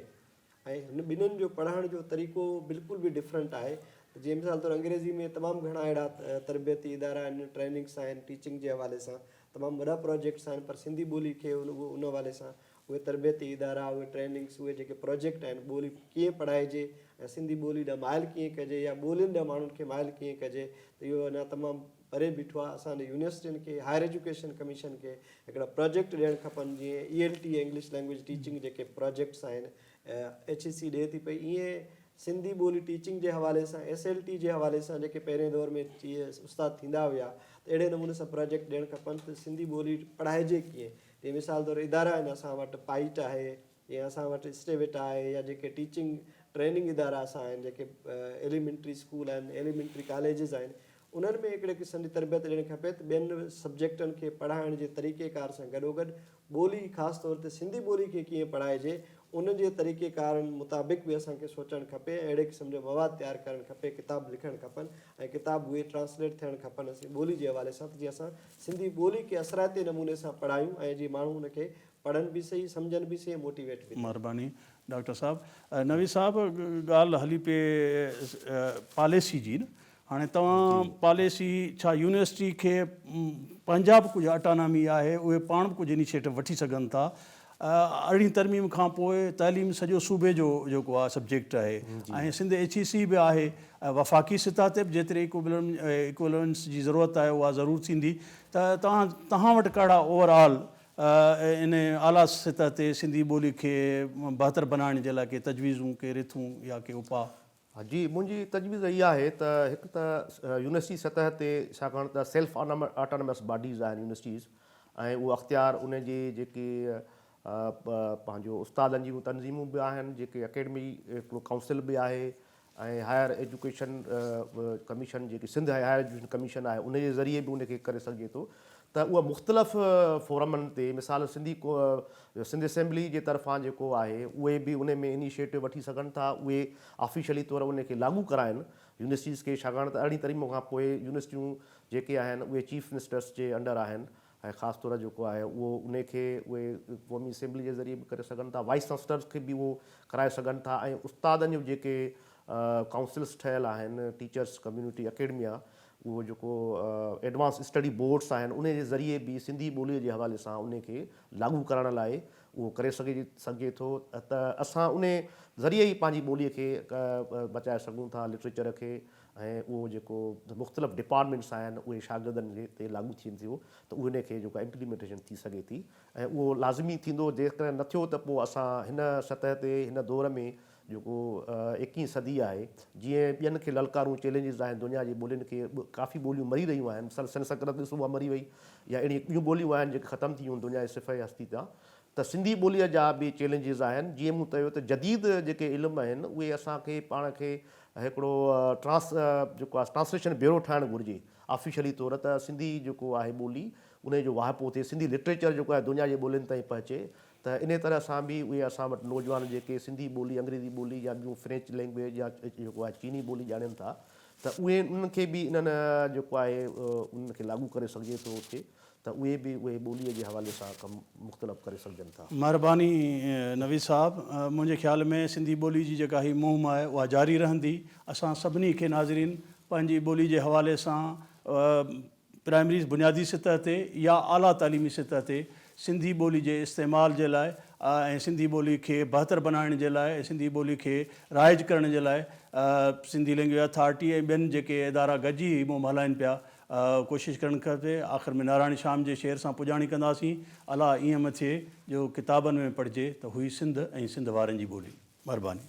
۽ هن ٻنهين جو پڙهڻ جو طريقو بلڪل به ڊفرنٽ آهي ته جيئن مثال طور انگريزي ۾ تمام گهڻا اهڙا تربيتي ادارا آهن، ٽريننگس آهن، ٽيچنگ جي حوالي سان تمام وڏا پراجيڪٽس آهن پر سنڌي ٻولي کي ان ان حوالي سان اهي تربيتي ادارا، اهي ٽريننگس، اهي جيڪي پراجيڪٽ آهن ٻولي ڪيئن پڙهائجي ۽ سنڌي ٻولي ڏانهن مائل ڪيئن ڪجي يا ٻولين ڏانهن ماڻهن کي مائل ڪيئن ڪجي ته اهو اڃا تمام پري بيٺو آهي اسان جي يونيورسٽين کي هائر ايجوڪيشن ڪميشن کي هڪڙا پراجيڪٽ ڏيڻ کپن جيئن E L T English language teaching جيڪي پراجيڪٽس آهن ايڇ اي سي ڏي ٿي پئي ايئن سنڌي ٻولي ٽيچنگ جي حوالي سان ايس ايل ٽي جي حوالي سان جيڪي پهرين دور ۾ استاد ٿيندا هيا ته اهڙي نموني سان پراجيڪٽ ڏيڻ کپن ته سنڌي ٻولي پڙهائجي ڪيئن جي مثال طور ادارا آهن اسان وٽ پائيٽ آهي جيئن اسان وٽ اسٽيوٽ آهي يا جيڪي ٽيچنگ ٽريننگ ادارا اسان آهن جيڪي ايليمينٽري اسڪول آهن ايليمينٽري ڪاليجز آهن انهن ۾ هڪڙي قسم جي تربيت ڏيڻي کپي ته ٻين سبجيڪٽن کي پڙهائڻ جي طريقي ڪار سان گڏوگڏ ٻولي خاص طور تي سنڌي ٻولي کي ڪيئن پڙهائجي ان جي طريقي ڪارن مطابق به اسان کي سوچڻ کپي ۽ اهڙي قسم جو مواد تيار ڪرڻ کپي ڪتاب لکڻ کپن ۽ ڪتاب اهي ٽرانسليٽ ٿيڻ کپن اسين ٻولي جي حوالي سان ته جيئن اسان سنڌي ٻولي کي اثرائتي نموني سان پڙهايون ۽ جي ماڻهو ان کي پڙهن به سهي سمجهن به سهي موٽيويٽ به ٿين. مھرباني ڊاڪٽر
صاحب. نويد صاحب ڳالھ ھلي پئي پاليسي جي نه ھاڻي توھان پاليسي ڇا يونيورسٽي کي پنھنجا به ڪجھ اٽانامي آھي اھي پاڻ به ڪجھ انيشيٽو وٺي سگھن ٿا ارڙھين ترميم کان پوء تعليم سڄو صوبي جو جيڪو آ سبجيڪٽ آھي ۽ سنڌ ايڇ اي سي به آھي وفاقي سطح تي به جيتري اڪويلنس جي ضرورت آھي اھا ضرور ٿيندي ته توھان توھان وٽ ڪھڙا اوور آل ان اعليٰ سطح تي سنڌي ٻولي کي بهتر بنائڻ جي لاء ڪي تجويزون، ڪي رٿون يا ڪي اپاء؟ جي منهنجي
تجويز اها آهي ته هڪ ته يونيورسٽي سطح تي ڇاڪاڻ ته سيلف آٽانومس باڊيز آهن يونيورسٽيز ۽ اهو اختيار ان جي جيڪي پنهنجو استادن جون تنظيمون به آهن جيڪي اڪيڊمي ڪائونسل به آهي ۽ هائير ايجوڪيشن ڪميشن جيڪي سنڌ هائير ايجوڪيشن ڪميشن آهي ان جي ذريعي به ان کي ڪري سگهجي ٿو ته اها مختلف فورمن تي مثال سنڌي سنڌ اسيمبلي جي طرفان جيڪو آهي اهي به ان ۾ انيشيٽو وٺي سگهن ٿا اهي آفيشلي طور ان کي لاڳو ڪرائن يونيورسٽيز کي ڇاڪاڻ ته ارڙهين ترميم کان پوء يونيورسٽيون جيڪي آهن اهي چيف منسٽرس جي انڊر آهن ۽ خاص طور جيڪو آهي اهو انهي کي اهي قومي اسيمبلي جي ذريعي به ڪري سگهن ٿا وائيس چانسلرز کي به اهو ڪرائي سگهن ٿا ۽ استادن جون جيڪي ڪائونسلز ٺهيل آهن ٽيچرز ڪميونٽي اڪيڊميا اهو جيڪو ايڊوانس اسٽڊي بورڊز آهن انهي جي ذريعي به سنڌي ٻولي جي حوالي سان انهي کي لاڳو ڪرائڻ لاء اهو ڪري سگهجي ٿو ته اسان انهي ذريعي ئي پنهنجي ٻولي کي بچائي سگهون ٿا لٽريچر کي ۽ اهو جيڪو مختلف ڊپارٽمينٽس آهن اهي شاگردن تي لاڳو ٿين ٿيون ته انهي کي جيڪو امپليمينٽيشن ٿي سگهي ٿي ۽ اهو لازمي ٿيندو جيڪڏهن نه ٿيو ته پوء اسان هن سطح تي هن دور ۾ جيڪو ايڪيهين صدي آهي جيئن ٻين کي للڪارون چئلينجز آهن دنيا جي ٻولين کي ڪافي ٻوليون مري رهيون آهن مثال سنسڪرت ڏسو اها مري وئي يا اهڙيون ٻيون ٻوليون آهن جيڪي ختم ٿي ويون دنيا جي صفحي هستي تان ته سنڌي ٻوليء جا به چئلينجز آهن، جيئن مون تيو ته جديد جيڪي علم آهن اهي اسان کي پاڻ کي هڪڙو ٽرانس جيڪو آهي ٽرانسليشن بيورو ٺاهڻ گهرجي آفيشلي طور ته سنڌي جيڪو آهي ٻولي انهي جو واهپو ٿئي سنڌي لٽريچر جيڪو آهي دنيا جي ٻولين تائين پهچي ته انهي طرح سان به اهي اسان وٽ نوجوان جيڪي سنڌي ٻولي انگريزي ٻولي يا ٻيون فرينچ لينگويج يا جيڪو آهي چيني ٻولي ڄاڻين ٿا ته اهي انهن کي به انهن جيڪو آهي انهن کي لاڳو ڪري سگهجي ٿو اتي ته اهي به اهي ٻوليء جي حوالي سان ڪم مختلف ڪري سگهجن ٿا. مهرباني
نويد صاحب. منهنجي خيال ۾ سنڌي ٻولي جي جيڪا هي مهم آهي اها جاري رهندي. اسان سڀني کي ناظرين پنهنجي ٻولي جي حوالي سان پرائمري بنيادي سطح تي يا اعليٰ تعليمي سطح تي سنڌي ٻولي جي استعمال جي لاء ۽ سنڌي ٻولي کي بهتر بنائڻ جي لاء ۽ سنڌي ٻولي کي رائج ڪرڻ جي لاء سنڌي لينگويج اٿارٽي ۽ ٻين جيڪي ادارا گڏجي هي مهم هلائين پيا ڪوشش ڪرڻ کپي. آخر ۾ ناراڻي شام جي شعر سان پڄاڻي ڪنداسين. الا ائين مٿئي جو ڪتابن ۾ پڙهجي ته هئي سنڌ ۽ سنڌ وارن جي ٻولي. مھرباني.